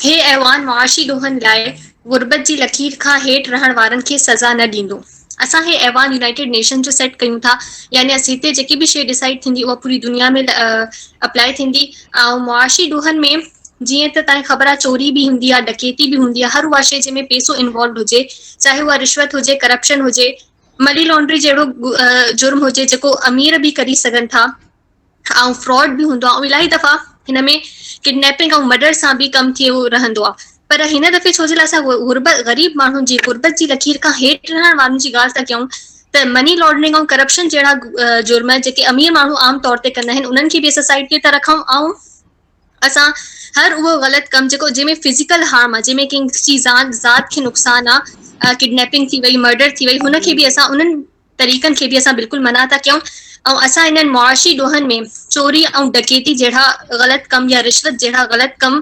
هي ايوان معاشي ڏوهن لاء غربت جي لڪير کان هيٺ رهڻ وارن کي سزا نه ڏيندو. اسان هي ايوان يونائيٽيڊ نيشنز جو سيٽ ڪيون ٿا يعني هتي جيڪي به شيء ڊسائيڊ ٿيندي اها پوري دنيا ۾ اپلائي ٿيندي ۽ معاشي ڏوهن ۾ جيئن ته تنهن خبر آهي چوري به هوندي آهي ڊڪيتي به هوندي آهي هر اها شيء جنهن ۾ پيسو انوالوڊ هجي چاهي اها رشوت هجي ڪرپشن هجي مني لانڊري جهڙو جرم هجي جيڪو امير به ڪري سگهن ٿا ۽ فراڊ به هوندو آهي ۽ الائي دفعا هن ۾ ڪڊنيپنگ ۽ مڊر سان به ڪم ٿيو رهندو آهي پر هن دفعي ڇو جي لاء اسان غربت غريب ماڻهن جي غربت جي لڪير کان هيٺ رهڻ وارن جي ڳالهه ٿا ڪيون ته مني لانڊرنگ ۽ ڪرپشن جهڙا جرم جيڪي امير ماڻهو عام طور تي ڪندا آهن انهن کي به اسان سائيڊ تي ٿا رکون ۽ اسان هر اهو غلط ڪم جيڪو جنهن ۾ فزيڪل هارم آ جنهن ۾ ڪنهن جي زان ذات کي نقصان آ ڪڊنيپنگ ٿي وئي مرڊر ٿي وئي هن کي به اسان انهن طريقن کي به اسان بلڪل منع ٿا ڪيون ۽ اسان انهن معاشي ڏوهن ۾ چوري ۽ ڊڪيتي جهڙا غلط ڪم يا رشوت جهڙا غلط ڪم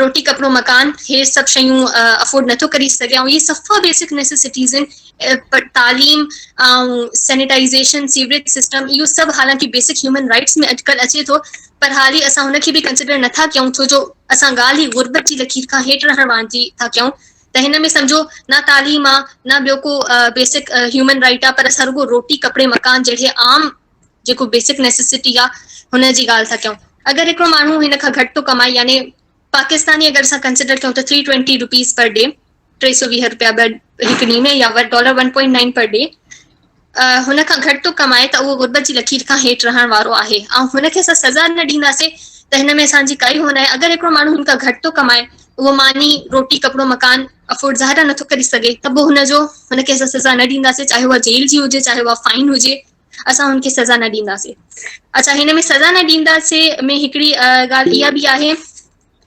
روٽي ڪپڙو مڪان هي سڀ شيون افورڊ نٿو ڪري سگهي ۽ هي صفا بيسڪ نيسيسٽيز آهن پر تعليم ۽ سينيٽائيزيشن سيوريج سسٽم اهو سڀ حالانڪه بيسڪ هيومن رائٽس ۾ اٽڪل اچي ٿو پر حال ئي اسان هن کي به ڪنسيڊر نٿا ڪيون ڇو جو اسان ڳالهه ئي غربت جي لڪير کان هيٺ رهڻ وارن جي ٿا ڪيون ته هن ۾ سمجهو نه تعليم آ نه ٻيو ڪو بيسڪ هيومن رائيٽ آ پر اسان رڳو روٽي ڪپڙي مڪان جهڙي عام جيڪو بيسڪ نيسيسٽي آ هن جي ڳالهه ٿا ڪيون اگر هڪڙو ماڻهو هن کان گهٽ ٿو ڪمائي يعني پاڪستاني اگر اسان ڪنسڊر ڪيون ته three twenty rupees per day ٽي سو ويهه روپيا هڪ ڏينهن ۾ يا dollar one point nine per day هن کان گهٽ ٿو ڪمائي ته اهو غربت جي لکير کان هيٺ رهڻ وارو آهي ۽ هن کي اسان سزا نه ڏينداسين ته هن ۾ اسان جي ڪائي هو ناهي اگر هڪڙو ماڻهو هن کان گهٽ ٿو ڪمائي اهو ماني روٽي ڪپڙو مڪان افورڊ ظاهر نٿو ڪري سگهي ته پوء هن جو هن کي اسان سزا نه ڏينداسين چاهي اها جيل جي هجي چاهي اها فائن هجي اسان هن کي سزا نه ڏينداسين. اچا هن ۾ سزا نه ڏينداسين ۾ هڪڙي ڳالهه اها به آهي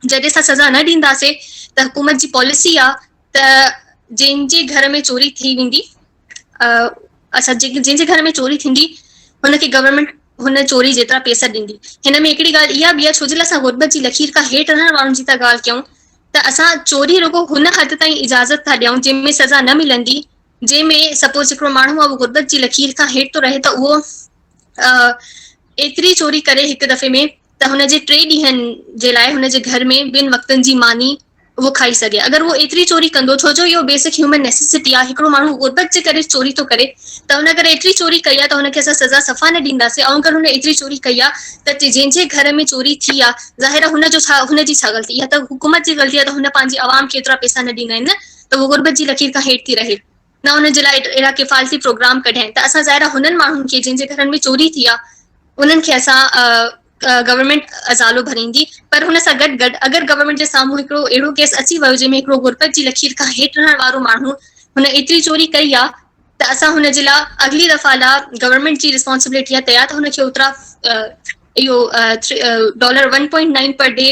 جڏهن اسان سزا نه ڏينداسين ته حڪومت جي پاليسي آ ته جن جي گهر ۾ چوري ٿي ويندي اسان جن جي گهر ۾ چوري ٿيندي هن کي گورنمينٽ هن چوري جيترا پيسا ڏيندي هن ۾ هڪڙي ڳالهه اها به آ ڇو جي لاء اسان غربت جي لڪير کان هيٺ رهڻ وارن جي ته ڳالهه ڪيون ته اسان چوري رڳو هن حد تائين اجازت ٿا ڏيون جنهن ۾ سزا نه ملندي جنهن ۾ سپوز هڪڙو ماڻهو آهي غربت جي لڪير کان هيٺ ٿو رهي ته اهو ايتري چوري ڪري هڪ دفعي ۾ ته هن جي ٽي ڏينهن جي لاء هن جي گهر ۾ ٻن وقتن جي ماني اهو کائي سگهي اگر اهو ايتري چوري ڪندو ڇو جو اهو بيسڪ هيومن نيسيسٽي آهي هڪڙو ماڻهو غربت جي ڪري چوري ٿو ڪري ته هن اگر ايتري چوري ڪئي آهي ته هن کي اسان سزا صفا نه ڏينداسين ۽ اگر هن ايتري چوري ڪئي آهي ته جنهن جي گهر ۾ چوري ٿي آهي ظاهر آهي هن جو ڇا هن جي ڇا غلطي اها ته حڪومت جي غلطي آهي ته هن پنهنجي عوام کي ايترا پئسا نه ڏنا آهن ته هو غربت جي لڪير کان هيٺ ٿي رهي، نه ان جي لاء اهڙا ڪفالتي پروگرام ڪڍين ته اسان ظاهر آهي هنن ماڻهن کي جن جي گهرن ۾ چوري ٿي آهي انهن کي اسان گورنمينٽ ازالو ڀريندي پر هن سان گڏ گڏ اگر گورنمينٽ جي سامهون هڪڙو اهڙو ڪيس اچي ويو جنهن ۾ هڪڙو غربت جي لڪير کان هيٺ رهڻ وارو ماڻهو هن ايتري چوري ڪئي آهي ته اسان هن جي لاء اڳلي دفعا لاء گورنمينٽ جي رسپانسبلٽي آهي تيار ته هن کي اوترا اهو dollar one point nine per day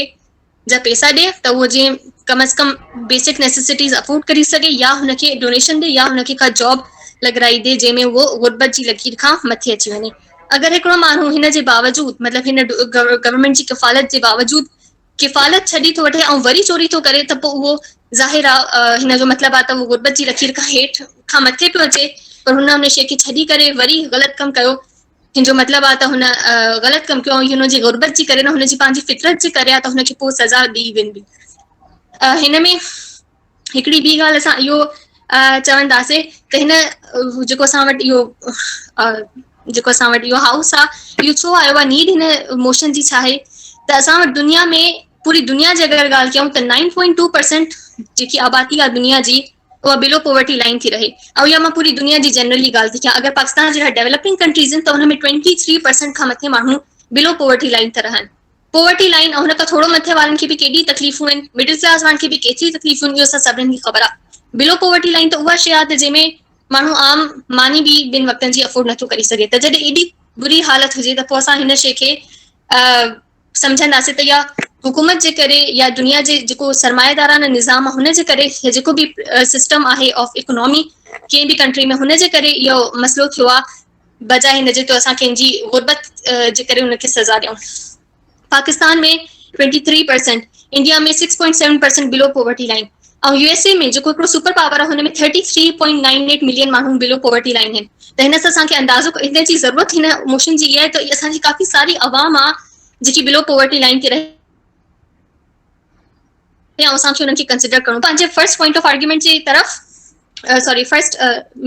جا پيسا ڏي ته هو جيئن ڪم از ڪم بيسڪ نيسيسٽيز افورڊ ڪري سگهي يا هن کي ڊونيشن ڏي يا هن کي ڪا جاب لڳرائي ڏي جنهن ۾ هو غربت جي لڪير کان مٿي اچي وڃي اگر هڪڙو ماڻهو هن جي باوجود مطلب هن گورنمينٽ جي ڪفالت جي باوجود ڪفالت ڇڏي ٿو وٺي ۽ وري چوري ٿو ڪري ته پوء اهو ظاهر آهي هن جو مطلب آهي ته اهو غربت جي لڪير کان هيٺ کان مٿي پيو اچي پر هن ان شيء کي ڇڏي ڪري وري غلط ڪم ڪيو ان جو مطلب آ ته هن غلط ڪم ڪيو ۽ هن جي غربت جي ڪري نه هن جي پنهنجي فطرت جي ڪري آ ته هن کي پوء سزا ڏئي ويندي. هن ۾ هڪڙي ٻي ڳالهه اسان اهو چونداسين ته هن جيڪو اسان وٽ اهو جيڪو اسان وٽ اهو هائوس آ اهو ڇو آيو آ نيڊ هن موشن جي ڇا آهي ته اسان وٽ دنيا ۾ پوري دنيا جي اگر ڳالهه ڪيون ته نائن پوائنٽ ٽو پرسنٽ جيڪي آبادي آ دنيا جي اها بلو پوورٽي لائين ٿي رهي ۽ اها مان پوري دنيا جي جنرلي ڳالهه ٿي ڪيان اگر پاڪستان جهڙا ڊيولپنگ ڪنٽريز آهن ته ان ۾ ٽوئنٽي ٿري پرسنٽ کان مٿي ماڻهو بلو پوورٽي لائين ته رهن پوورٽي لائين ۽ ان کان ٿورو مٿي وارن کي به ڪيڏي تڪليفون آهن مڊل ڪلاس وارن کي به ڪيتري تڪليفون آهن اهو اسان سڀني کي خبر آهي بلو پوورٽي لائين ته اها شيء آهي ته جنهن ۾ ماڻهو عام ماني به ٻن وقتن جي افورڊ نٿو ڪري سگهي ته جڏهن ايڏي بري حالت هجي ته پوء اسان هن شيء کي سمجهنداسين ته اها حڪومت جي ڪري يا دنيا جي جيڪو سرمائيدارانه نظام آهي ان جي ڪري يا جيڪو به سسٽم آهي آف اڪنامي ڪنهن به ڪنٽري ۾ هن جي ڪري اهو مسئلو ٿيو آهي بجاء هن جي ته اسان ڪنهن جي غربت جي ڪري ان کي سزا ڏيون Pakistan ۾ twenty three percent India ۾ six point seven percent below poverty line ۽ U S A ۾ جيڪو هڪڙو سپر پاور آهي هن ۾ thirty three point nine eight million ماڻهو بلو پاورٽي لائين آهن ته هن سان اسان کي اندازو هن جي ضرورت هن موشن جي اها آهي ته اسان جي ڪافي ساري عوام آهي جيڪي بلو پاورٽي لائين تي رهي ۽ اسان کي انهن کي ڪنسڊر ڪرڻو پنهنجي فرسٽ پوائنٽ آف آرگيومينٽ جي طرف سوري فرسٽ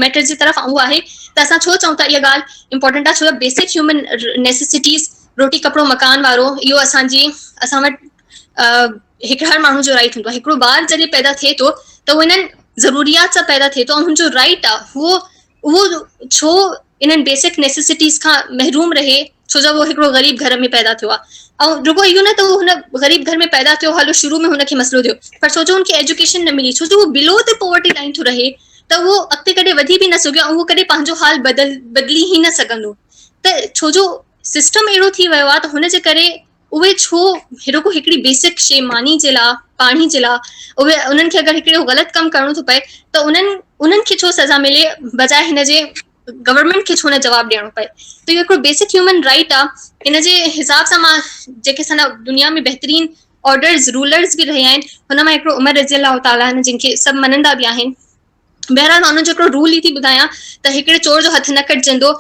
ميٽر جي طرف اهو آهي ته اسان ڇو چئون ٿا اها ڳالهه امپورٽنٽ آهي ڇو جو بيسڪ هيومن نيسيسٽيز روٽي ڪپڙو مڪان وارو اهو اسان جي اسان وٽ هڪ هر ماڻهو جو رائٽ هوندو آهي هڪڙو ٻار جڏهن پيدا ٿئي ٿو ته اهو انهن ضروريات سان پيدا ٿئي ٿو ۽ هن جو رائٽ آهي هو اهو ڇو انهن بيسڪ نيسيسٽيز کان محروم رهي ڇو جو هو هڪڙو غريب گهر ۾ پيدا ٿيو آهي ۽ رڳو اهو نه ته هو هن غريب گهر ۾ پيدا ٿيو هل شروع ۾ هن کي مسئلو ٿيو پر ڇو جو هن کي ايجوڪيشن نه ملي ڇو جو هو بلو تي پاورٽي لائين ٿو رهي ته اهو اڳتي ڪڏهن وڌي به نه سگهيو ۽ اهو ڪڏهن پنهنجو حال بدل بدلي ئي نه سگهندو ته ڇو جو سسٽم اهڙو ٿي ويو آهي ته هن جي ڪري اهي ڇو رڳو هڪڙي بيسڪ شي ماني جي لاء پاڻي جي لاء اهي انهن کي اگر هڪڙو غلط ڪم ڪرڻو ٿو پئي ته انهن انهن کي ڇو سزا ملي بجاء هن جي گورنمينٽ کي ڇو نه جواب ڏيڻو پئي ته اهو هڪڙو بيسڪ هيومن رائيٽ آ ان جي حساب سان مان جيڪي سنا دنيا ۾ بهترين آرڊرز رولرز به رهيا آهن هن مان هڪڙو عمر رضي الله تعالٰي عنه جن کي سڀ مڃندا به آهن بهرحال مان ان جو هڪڙو رول ئي ٿي ٻڌايان ته هڪڙي چور جو هٿ نه ڪٽجندو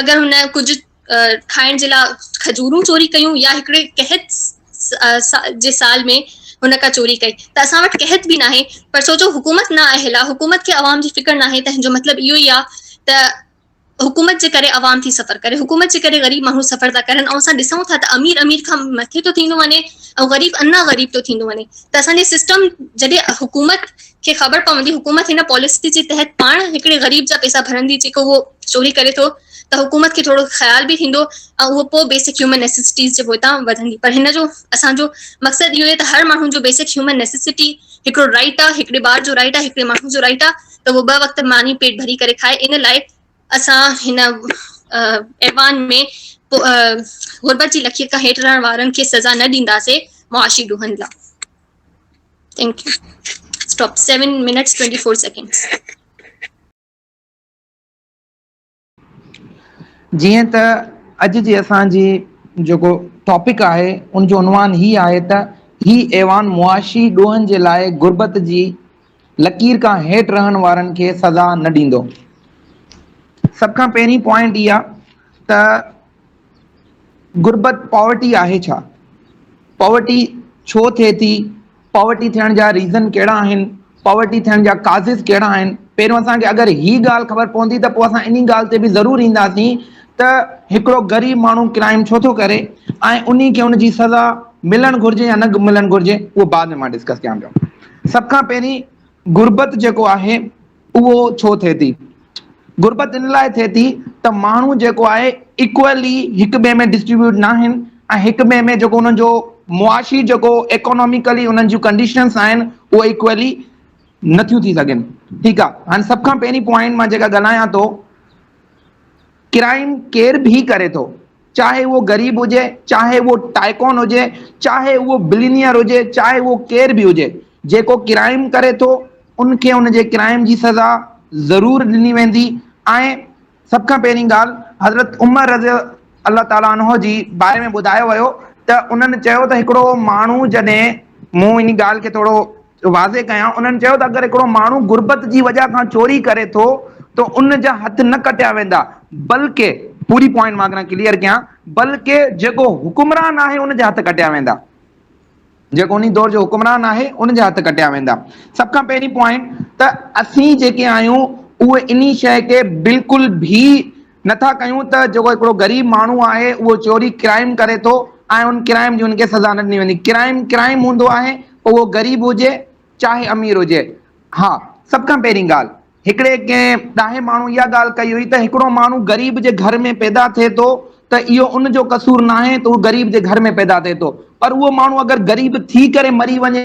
اگر هن ڪجهه کائڻ جي لاء کجورون چوري ڪيون يا هڪڙي قحط جي سال ۾ هن ڪا چوري ڪئي ته اسان وٽ قحط به ناهي پر ڇو جو حڪومت نه آهي لا حڪومت کي عوام جي فڪر ناهي تنهن جو مطلب اهو ئي آهي ته حڪومت جي ڪري عوام ٿي سفر ڪري حڪومت جي ڪري غريب ماڻهو سفر ٿا ڪرن ۽ اسان ڏسون ٿا ته امير امير کان مٿي ٿو ٿيندو وڃي ۽ غريب انا غريب ٿو ٿيندو وڃي ته اسان جو سسٽم جڏهن حڪومت کي خبر پوندي حڪومت هن پاليسي جي تحت پاڻ هڪڙي غريب جا پيسا ڀرندي جيڪو اهو چوري ڪري ٿو ته حڪومت کي ٿورو خيال به ٿيندو ۽ اهو پوء بيسڪ هيومن نيسيسٽيز جي پوئتان وڌندي پر هن جو اسان جو مقصد اهو آهي ته هر ماڻهو جو بيسڪ هيومن نيسيسٽي هڪڙو رائيٽ آهي هڪڙي ٻار جو رائيٽ آهي هڪڙي ماڻهو جو رائيٽ آهي ته اهو ٻه وقت ماني پيٽ ڀري ڪري کائي ان لاء اسان هن ايوان ۾ غربت جي لکيت کان هيٺ رهڻ وارن کي سزا نه ڏينداسين معاشي ڏوهن لاء thank you stop 7 minutes 24 seconds جيئن ته اڄ جي اسان جي جيڪو ٽاپڪ آهي ان جو عنوان هي آهي ته هي ايوان معاشي ڏوهن جي لاء غربت جي لڪير کان هيٺ رهڻ وارن کي سزا نه ڏيندو. سڀ کان پهرين پوائنٽ اها ته غربت Poverty آهي ڇا؟ Poverty ڇو ٿئي ٿي؟ Poverty ٿيڻ جا Reason ڪهڙا آهن؟ Poverty ٿيڻ جا Causes ڪهڙا آهن؟ پهريون اسان کي اگر هي ڳالهه خبر پوندي ته پوء اسان انهي ڳالهه تي به ضرور اينداسين ته هڪڙو غريب ماڻهو Crime ڇو ٿو ڪري ۽ انهي کي ان جي سزا ملڻ گهرجي يا نه ملڻ گهرجي اهو بعد ۾ مان Discuss ڪيان پيو. سڀ کان پهرين غربت جيڪو آهي. اهو ڇو ٿئي ٿي؟ غربت ان لاء ٿئي ٿي ته ماڻهو جيڪو آهي ايڪوئلي هڪ ٻئي ۾ ڊسٽريبيوٽ نه آهن ۽ هڪ ٻئي ۾ جيڪو انهن جو معاشي جيڪو ايڪاناميڪلي انهن جون ڪنڊيشنس آهن اهو ايڪوئلي نٿيون ٿي سگهن ٺيڪ آهي هاڻي سڀ کان پهرين پوائنٽ مان جيڪا ڳالهايان ٿو ڪرائيم ڪير به ڪري ٿو چاهي اهو غريب هجي، چاهي اهو ٽائڪون هجي، چاهي اهو بلينيئر هجي، چاهي اهو ڪير به هجي، جيڪو ڪرائيم ڪري ٿو، ان کي ان جي ڪرائيم جي سزا ضرور ڏني ويندي ۽ سڀ کان پهرين ڳالهه حضرت عمر رضي الله تعالٰي عنه جي باري ۾ ٻڌايو ويو ته انهن چيو ته هڪڙو ماڻهو جڏهن مون ان ڳالهه کي ٿورو واضح ڪيان، انهن چيو ته اگر هڪڙو ماڻهو غربت جي وجهه کان چوري ڪري ٿو ته ان جا هٿ نه ڪٽيا ويندا بلڪ پوري پوائنٽ مان اگر ڪليئر ڪيان بلڪ جيڪو حڪمران آهي ان جا هٿ ڪٽيا ويندا جيڪو انهي دور جو حڪمران آهي ان جا هٿ ڪٽيا ويندا سڀ کان پهرين پوائنٽ ته اسين جيڪي آهيون اهي انهي شيء کي بلڪل به نٿا ڪيون ته جيڪو هڪڙو غريب ماڻهو آهي اهو چوري ڪرائيم ڪري ٿو ۽ ان ڪرائيم جي ان کي سزا نه ڏني ويندي ڪرائيم ڪرائيم هوندو آهي پوء اهو غريب هجي چاهي امير هجي ها سڀ کان پهرين ڳالهه هڪڙي ڪنهن ڏاهي ماڻهو اها ڳالهه ڪئي هئي ته هڪڙو ماڻهو غريب جي گهر ۾ پيدا ٿئي ٿو ته اهو ان جو قصور ناهي ته اهو غريب جي گهر ۾ پيدا ٿئي ٿو پر اهو ماڻهو اگر غريب ٿي ڪري مري وڃي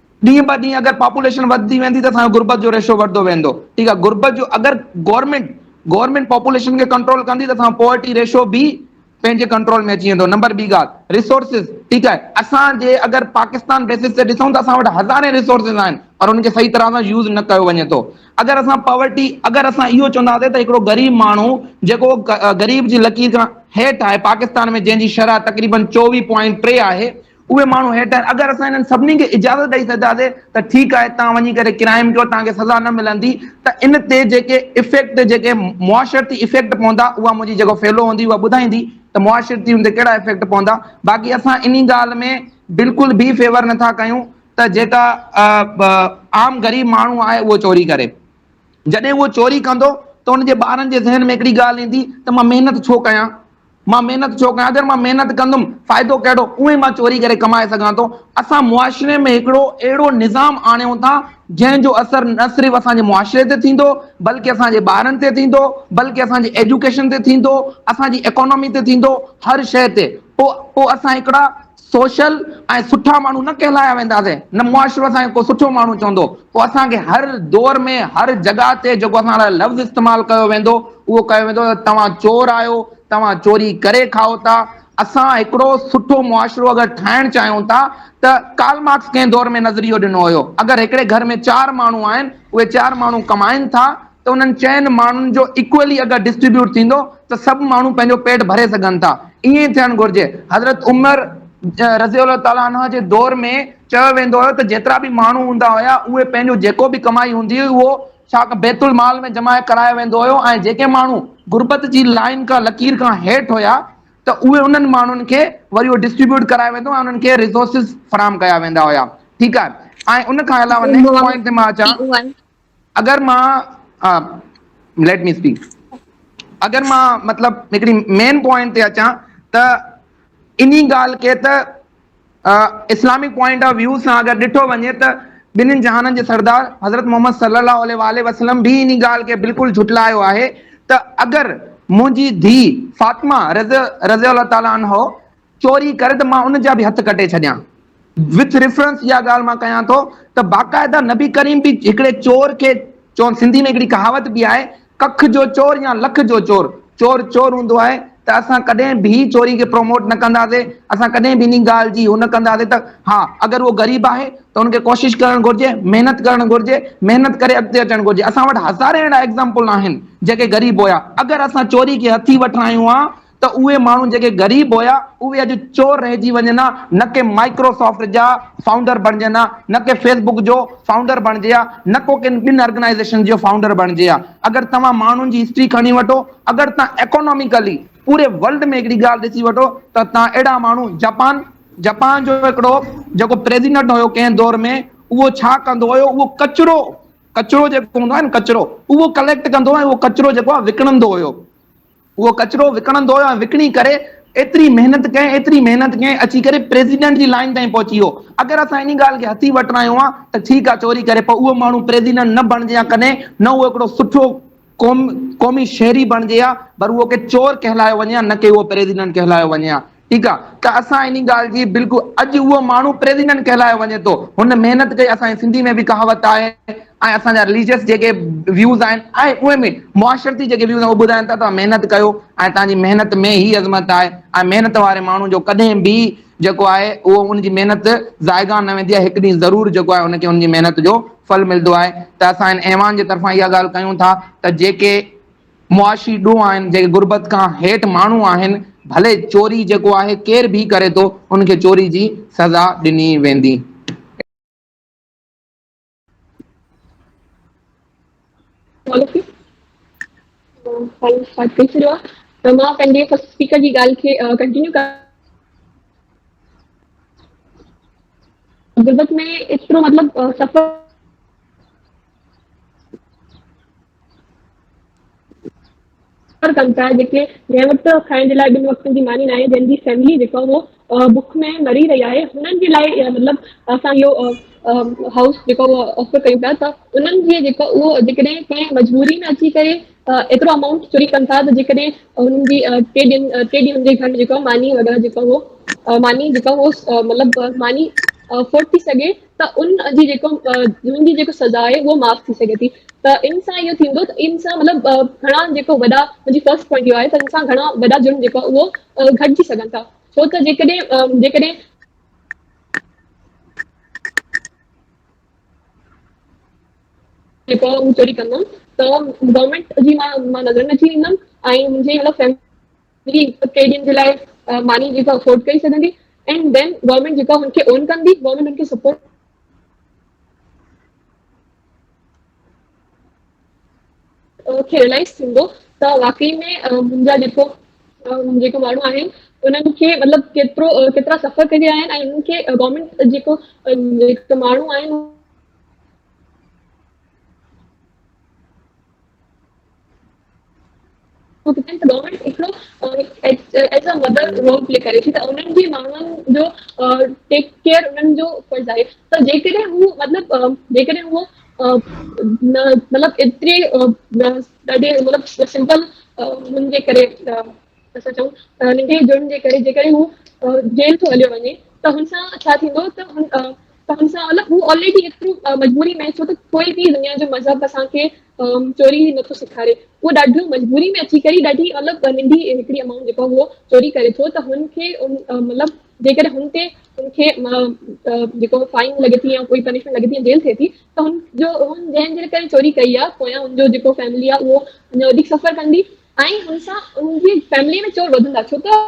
ڏينهن به ڏينهن اگر پاپوليشن وڌندي ويندي ته اسان جو غربت جو ريشو وڌندو ويندو ٺيڪ آهي غربت جو اگر گورنمينٽ گورنمينٽ پاپوليشن کي ڪنٽرول ڪندي ته اسان جو پاورٽي ريشو به پنهنجي ڪنٽرول ۾ اچي ويندو نمبر ٻي ڳالهه ريسورسز ٺيڪ آهي اسان جي اگر پاڪستان بيسز تي ڏسون ته اسان وٽ هزارين ريسورسز آهن پر ان کي صحيح طرح سان يوز نه ڪيو وڃي ٿو اگر اسان پاورٽي اگر اسان اهو چونداسين ته هڪڙو غريب ماڻهو جيڪو غريب جي لڪير کان هيٺ آهي پاڪستان ۾ جنهن جي شرح تقريبن چوويهه پوائنٽ ٽي آهي اهي ماڻهو هيٺ آهن، اگر اسان انهن سڀني کي اجازت ڏئي ڇڏينداسين ته ٺيڪ آهي توهان وڃي ڪري ڪرائيم ڪيو توهان کي سزا نه ملندي ته ان تي جيڪي افيڪٽ جيڪي معاشرتي افيڪٽ پوندا اها منهنجي جيڪو فيلو هوندي اها ٻڌائيندي ته معاشرتي ان تي ڪهڙا افيڪٽ پوندا باقي اسان انهي ڳالهه ۾ بلڪل به فيور نه ٿا ڪيون ته جيڪا عام غريب ماڻهو آهي اهو چوري ڪري جڏهن اهو چوري ڪندو ته ان جي ٻارن جي ذهن ۾ هڪڙي ڳالهه ايندي ته مان محنت ڇو ڪيان. مان محنت ڇو ڪيان جڏهن مان محنت ڪندم فائدو ڪهڙو اونهي مان چوري ڪري ڪمائي سگهان ٿو اسان معاشري ۾ هڪڙو اهڙو نظام آڻيون ٿا جنهن جو اثر نه صرف اسان جي معاشري تي ٿيندو بلڪه اسان جي ٻارن تي ٿيندو بلڪه اسان جي ايجوڪيشن تي ٿيندو اسان جي اڪانامي تي ٿيندو هر شيء تي پوء پوء اسان هڪڙا سوشل ۽ سٺا ماڻهو نه ڪهلايا وينداسين، نه معاشرو اسان کي ڪو سٺو ماڻهو چوندو، پوء اسان کي هر دور ۾ هر جڳهه تي جيڪو اسان لاء لفظ استعمال ڪيو ويندو اهو ڪيو ويندو ته توهان چور آهيو، توهان چوري ڪري کائو ٿا، اسان هڪڙو سٺو معاشرو اگر ٺاهڻ چاهيون ٿا ته ڪارل مارڪس ڪنهن دور ۾ نظريو ڏنو هيو اگر هڪڙي گهر ۾ چار ماڻهو آهن اهي چار ماڻهو ڪمائن ٿا، ته انهن چئن ماڻهن جو ايڪوئلي اگر ڊسٽريبيوٽ ٿيندو ته سڀ ماڻهو پنهنجو پيٽ ڀري سگهن ٿا ائين ئي ٿيڻ گهرجي حضرت عمر رضي الله تعالٰي عنه جي دور ۾ چيو ويندو هيو ته جيترا به ماڻهو هوندا هيا اهي پنهنجو جيڪو به ڪمائي هوندي هئي اهو ڇا ڪن بيت المال ۾ جمع ڪرايو ويندو هيو ۽ جيڪي ماڻهو غربت جي لائين کان لڪير کان هيٺ هيا ته اهي انهن ماڻهن کي وري اهو ڊسٽريبيوٽ ڪرايو ويندو ۽ انهن کي ريسورسز فراهم ڪيا ويندا هيا ٺيڪ آهي ۽ ان کان علاوه نيڪسٽ پوائنٽ تي مان اچان اگر مان ليٽ مي اسپيڪ اگر مان مطلب هڪڙي مين پوائنٽ تي اچان ته انهي ڳالهه کي ته اسلامڪ پوائنٽ آف ويو سان اگر ڏٺو وڃي ته ٻنهن جهانن جي سردار حضرت محمد صلي الله عليه واٰله وسلم به انهي ڳالهه کي بلڪل جهٽلايو آهي ته اگر منهنجي ڌيء فاطمه رضي الله تعالٰي عنها چوري ڪري ته مان ان جا به هٿ ڪٽي ڇڏيان. وٿ ريفرنس اها ڳالهه مان ڪيان ٿو ته باقاعده نبي ڪريم به هڪڙي چور کي چون سنڌي ۾ هڪڙي ڪهاوت به آهي ڪک جو چور يا لک جو چور چور چور هوندو آهي ته اسان ڪڏهن به چوري کي پروموٽ نه ڪنداسي اسان ڪڏهن به انهي ڳالهه جي هو نه ڪنداسي ته ها اگر اهو غريب آهي ته ان کي ڪوشش ڪرڻ گهرجي محنت ڪرڻ گهرجي محنت ڪري اڳتي اچڻ گهرجي اسان وٽ هزارين اهڙا ايگزامپل آهن جيڪي غريب هيا اگر اسان چوري کي هٿي وٺرايون ها ته اهي ماڻهو جيڪي غريب هيا اهي اڄ چور رهجي وڃن ها نه ڪي مائڪرو سافٽ جا فائونڊر بڻجن ها نه ڪي فيس بڪ جو فائونڊر بڻجي ها نه ڪو ڪن ٻن ارگنائيزيشن جو فائونڊر بڻجي ها اگر توهان ماڻهن جي هسٽري کڻي وٺو اگر توهان ايڪوناميڪلي پوري ورلڊ ۾ هڪڙي ڳالهه ڏسي وٺو ته توهان اهڙا ماڻهو جپان جپان جو هڪڙو جيڪو پريزيڊنٽ هيو ڪنهن دور ۾ اهو ڇا ڪندو هيو اهو ڪچرو ڪچرو جيڪو هوندو آهي نه ڪچرو اهو ڪليڪٽ ڪندو ۽ اهو ڪچرو جيڪو آهي وڪڻندو هيو. اهو ڪچرو وڪڻندو هيو ۽ وڪڻي ڪري ايتري محنت ڪئين ايتري محنت ڪئين اچي ڪري پريزيڊنٽ جي لائين تائين پهچي ويو اگر اسان انهي ڳالهه کي هٿي وٺ رايون ها ته ٺيڪ آ چوري ڪري پر اهو ماڻهو پريزيڊنٽ نه بڻجي ها ڪڏهن نه اهو هڪڙو سٺو قومي شهري بڻجي ها پر اهو ڪي چور ڪهلايو وڃي ها نه ڪي اهو پريزيڊنٽ ڪهلايو وڃي ها. ٺيڪ آ ته اسان انهي ڳالهه جي بلڪل اڄ اهو ماڻهو پريزيڊنٽ ڪهلايو وڃي ٿو هن محنت ڪئي اسان جي سنڌي ۾ به ڪهاوت آهي ۽ اسان جا رليجس جيڪي ويوز آهن ۽ اهي ۾ معاشرتي جيڪي ويوز آهن اهي ٻڌائين ٿا توهان محنت ڪيو ۽ توهان جي محنت ۾ هي عظمت آهي ۽ محنت واري ماڻهو جو ڪڏهن به جيڪو آهي اهو ان جي محنت ضائگان نه ويندي آهي هڪ ڏينهن ضرور جيڪو آهي ان کي ان جي محنت جو ڦل ملندو آهي ته اسان هن ايوان جي طرفان اها ڳالهه ڪيون ٿا ته جيڪي معاشي ڏوهه آهن جيڪي غربت کان هيٺ ماڻهو آهن ڀلي چوري جيڪو آهي ڪير ڀي ڪري ٿو ان کي چوري جي سزا ڏني ويندي. ڪر ڪن پيا جيڪي جنهن وقت کائڻ جي لاء ٻن وقتن جي ماني ناهي جنهن جي فيملي جيڪا اهو بک ۾ مري رهي آهي انهن جي لاء مطلب اسان اهو هائوس جيڪو آفر ڪيون پيا ته انهن جي جيڪا اهو جيڪڏهن ڪنهن مجبوري ۾ اچي ڪري ايترو امائونٽ چوري ڪن ٿا ته جيڪڏهن انهن جي ٽي ڏينهن ٽي ڏينهن جي گهر جيڪا ماني وغيره جيڪا اهو ماني جيڪا اهو مطلب ماني افورڊ ٿي سگهي ته ان جي جيڪو ان جي جيڪو سزا آهي اهو معاف ٿي سگهي ٿي ته ان سان اهو ٿيندو ته ان سان مطلب گهڻا جيڪو وڏا منهنجي فرسٽ پوائنٽ اهو آهي ته ان سان گهڻا وڏا جرم جيڪو اهو گهٽجي سگهن ٿا ڇو ته جيڪڏهن جيڪڏهن جيڪو چوري ڪندم ته گورنمينٽ جي مان مان نظر ۾ اچي ويندم ۽ منهنجي مطلب فيملي جي ٽي ڏينهن جي لاء ماني جيڪا افورڊ ڪري سگهندي اينڊ دين گورنمينٽ جيڪا هن کي اون ڪندي گورنمينٽ هن کي سپورٽ کي ريلائز ٿيندو ته واقعي ۾ منهنجا جيڪو جيڪو ماڻهو آهن انهن کي مطلب ڪيترو ڪيترا سفر ڪري رهيا آهن ۽ انهن کي گورنمينٽ جيڪو ماڻهو آهن گورنمينٽ هڪڙو as a mother role play ڪري ٿي ته انهن جي ماڻهن جو ٽيڪ ڪيئر انهن جو فرض آهي ته جيڪڏهن هو مطلب جيڪڏهن هو مطلب ايتري مطلب سمپل هن جي ڪري اسان چئون ته ننڍي جرم جي ڪري جيڪڏهن هو جيل ٿو هليو وڃي ته هن سان ڇا ٿيندو ته هن ته هن سان مطلب هو آلريڊي ايترو مجبوري ۾ ڇو ته ڪوئي به دنيا جو مذهب اسان کي چوري نٿو سيکاري هو ڏاڍو مجبوري ۾ اچي ڪري ڏاڍي مطلب ننڍي هڪڙي امائونٽ جيڪا هو چوري ڪري ٿو ته هن کي مطلب جيڪڏهن هن تي هن کي جيڪو فائن لڳي ٿي يا ڪوئي پنشمينٽ لڳي ٿي جيل ٿئي ٿي ته هن جو هن جنهن جي ڪري چوري ڪئي آهي پويان هن جو جيڪو فيملي آهي اهو اڃا وڌيڪ سفر ڪندي ۽ ان سان ان جي فيملي ۾ چور وڌندا ڇو ته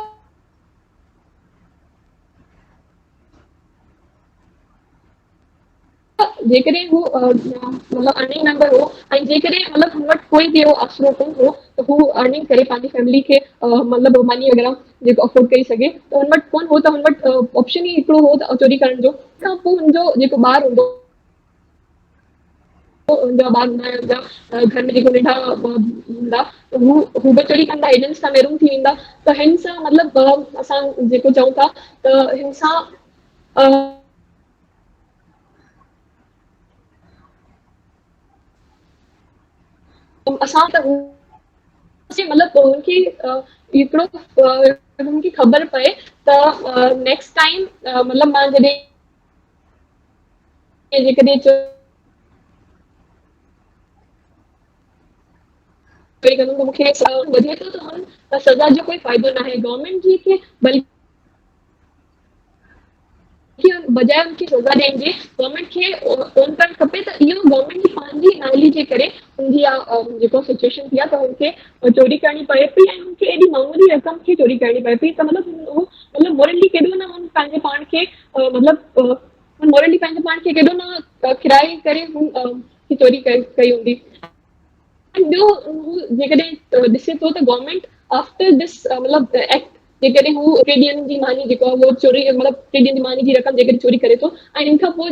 جيڪڏهن هو مطلب ارننگ ميمبر هو ۽ جيڪڏهن مطلب هن وٽ ڪوئي به اهو آسرو ڪون هو ته هو ارننگ ڪري پنهنجي فيملي کي مطلب ماني وغيره جيڪو افورڊ ڪري سگهي ته هن وٽ ڪون هو ته هن وٽ آپشن ئي هڪڙو هو ته چوري ڪرڻ جو ته پوء هن جو جيڪو ٻار هوندو هوندا باغ ۾ هوندا گهر ۾ جيڪو ننڍا هوندا هو هو به چڙي ڪندا هيڏن سان محروم ٿي ويندا ته هن سان مطلب اسان جيڪو چئون ٿا ته هن سان اسان ته مطلب هن کي هڪڙو هن کي خبر پئي ته نيڪسٽ ٽائيم مطلب مان جڏهن جيڪڏهن چوري ڪندم ته مون کي وڌي ٿو ته هن سزا جو ڪوئي فائدو ناهي گورنمينٽ جي کي بلڪ بجاء ان کي سزا ڏيڻ جي گورنمينٽ کي اون ڪرڻ کپي ته اهو گورنمينٽ جي پنهنجي نالي جي ڪري ان جي جيڪو سچويشن ٿي آهي ته هن کي چوري ڪرڻي پوي پئي ۽ هن کي ايڏي معمولي رقم کي چوري ڪرڻي پوي پئي ته مطلب مطلب مورلي ڪيڏو نه هن پنهنجي پاڻ کي مطلب هن مورلي پنهنجي پاڻ کي ڪيڏو نه کرائي ڪري هن چوري ڪئي هوندي ٻيو هو جيڪڏهن ڏسي ٿو ته گورنمينٽ آفٽر دس مطلب ايڪٽ جيڪڏهن هو ٽي ڏينهن جي ماني جيڪو اهو چوري مطلب ٽي ڏينهن جي ماني جي رقم جيڪڏهن چوري ڪري ٿو ۽ ان کان پوء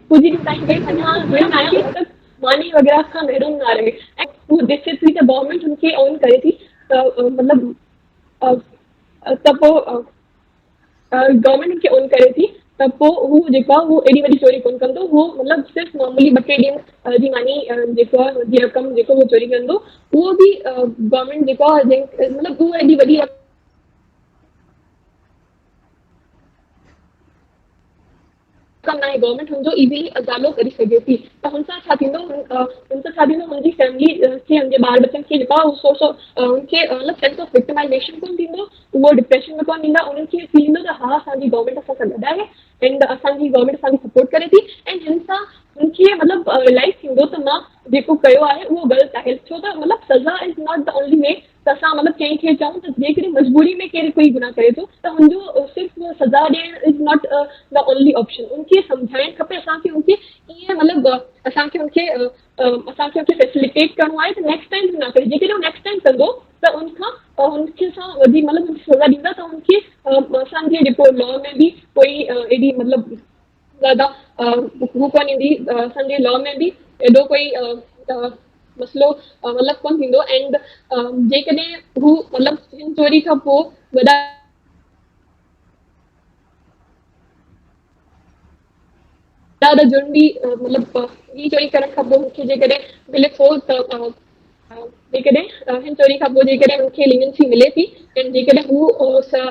ڪجهه ڏينهن تائين ڪنهن سان ڳالهه ٻولهه نه آهي ۽ صرف ماني وغيره کان محروم نه رهي ۽ هو ڏسي ٿي ته گورنمينٽ هن کي اون ڪري ٿي ته مطلب ته پوء گورنمينٽ هن کي اون ڪري ٿي ته پوء هو جيڪو آهي اهو ايڏي وڏي چوري ڪونه ڪندو هو مطلب صرف معمولي ٻه ٽي ڏينهن جي ماني جيڪو آهي جي رقم جيڪو هو چوري ڪندو اهو به گورنمينٽ جيڪو آهي جنهن مطلب اهو ايڏي وڏي رقم ڪم ناهي گورنمينٽ هن جو ايزلي ازالو ڪري سگهي ٿي ته هن سان ڇا ٿيندو هن سان ڇا ٿيندو هن جي فيملي کي هن جي ٻار ٻچن کي جيڪو آهي اهو سورس آف هن کي مطلب سينس آف وڪٽمائيزيشن ڪونه ٿيندو اهو ڊپريشن ۾ ڪونه ويندا انهن کي فيل ٿيندو ته ها اسان جي گورنمينٽ اسان سان گڏ آهي اينڊ اسان جي گورنمينٽ اسان کي سپورٽ ڪري ٿي اينڊ هن سان هن کي مطلب ريلائز ٿيندو ته مان جيڪو ڪيو آهي اهو غلط آهي ڇو ته مطلب سزا is not the only way ته اسان مطلب ڪنهن کي چئون ته جيڪڏهن مجبوري ۾ ڪير ڪوئي گناهه ڪري ٿو ته ان جو صرف سزا ڏيڻ is not the only option ان کي سمجهائڻ کپي اسان کي ان کي ائين مطلب اسان کي ان کي اسان کي ان کي فيسليٽيٽ ڪرڻو آهي ته نيڪسٽ ٽائم نه ڪري جيڪڏهن هو نيڪسٽ ٽائم ڪندو ته ان کان ان کي اسان وڌيڪ مطلب سزا ڏيندا ته ان کي اسان جي جيڪو لا ۾ به ڪوئي ايڏي مطلب زياده هو ڪونه ايندي اسان جي لا ۾ به ايڏو ڪوئي مسئلو مطلب ڪونه ٿيندو اينڊ جيڪڏهن هو مطلب هن چوري کان پوء وڏا ڏاڍا جرم به مطلب هي چوري ڪرڻ کان پوء مون کي جيڪڏهن ملي ٿو ته جيڪڏهن هن چوري کان پوء جيڪڏهن هن کي لينينسي ملي ٿي ۽ جيڪڏهن هو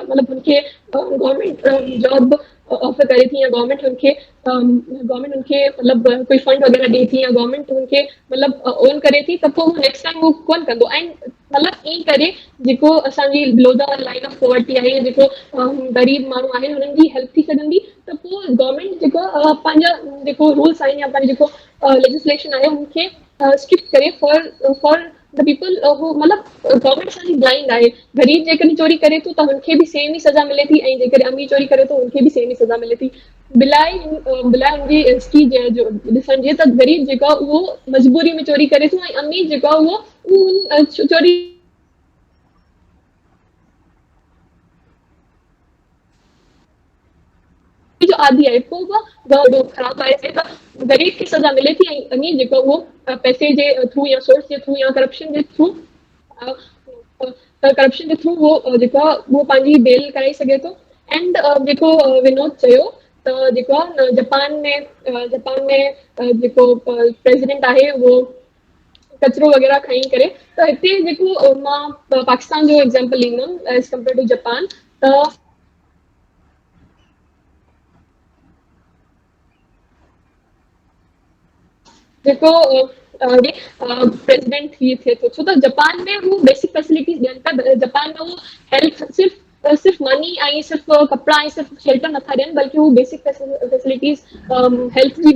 مطلب هن کي گورنمينٽ جاب به آفر ڪري ٿي يا گورنمينٽ هن کي گورنمينٽ هن کي مطلب ڪوئي فنڊ وغيره ڏي ٿي يا گورنمينٽ هن کي مطلب اون ڪري ٿي ته پوء هو نيڪسٽ ٽائيم هو ڪون ڪندو ۽ مطلب ائين ڪري جيڪو اسان جي below the line of poverty آهي يا جيڪو غريب ماڻهو آهن هنن جي هيلپ ٿي سگهندي ته پوء گورنمينٽ جيڪو پنهنجا جيڪو رولس آهن يا پنهنجو جيڪو ليجسليشن آهي هن کي اسڪپ ڪري فار فار ڊي پيپل هو مطلب گورنمينٽ اسان جي بلائنڊ آهي غريب جيڪڏهن چوري ڪري ٿو ته هن کي به سيم ئي سزا ملي ٿي ۽ جيڪڏهن امير چوري ڪري ٿو هن کي به سيم ئي سزا ملي ٿي بلاء بلاء ان جي هسٽري جو ڏسڻ جي ته غريب جيڪو اهو مجبوري ۾ چوري ڪري ٿو ۽ امير جيڪو اهو چوري جو عادي آهي پوء به اهو ڏوهه خراب آهي سي ته غريب کي سزا ملي ٿي ۽ امير جيڪو اهو پئسي جي ٿرو يا سورس جي ٿرو يا ڪرپشن جي ٿرو ڪرپشن جي ٿرو اهو جيڪو آهي اهو پنهنجي بيل ڪرائي سگهي ٿو اينڊ جيڪو ونود چيو ته جيڪو آهي جپان ۾ جپان ۾ جيڪو پريزيڊنٽ آهي اهو ڪچرو وغيره کڻي ڪري ته هتي جيڪو مان پاڪستان جو ايگزامپل ڏيندم ايز ڪمپيئر ٽو جپان ته جيڪو پريزيڊنٽ ٿي ٿئي ٿو ڇو ته جپان ۾ هو بيسڪ فيسلٽيز ڏين ٿا جپان ۾ هو هيلٿ صرف صرف ماني ۽ صرف ڪپڙا ۽ صرف شيلٽر نٿا ڏين بلڪه هو بيسڪ فيسلٽيز هيلٿ جي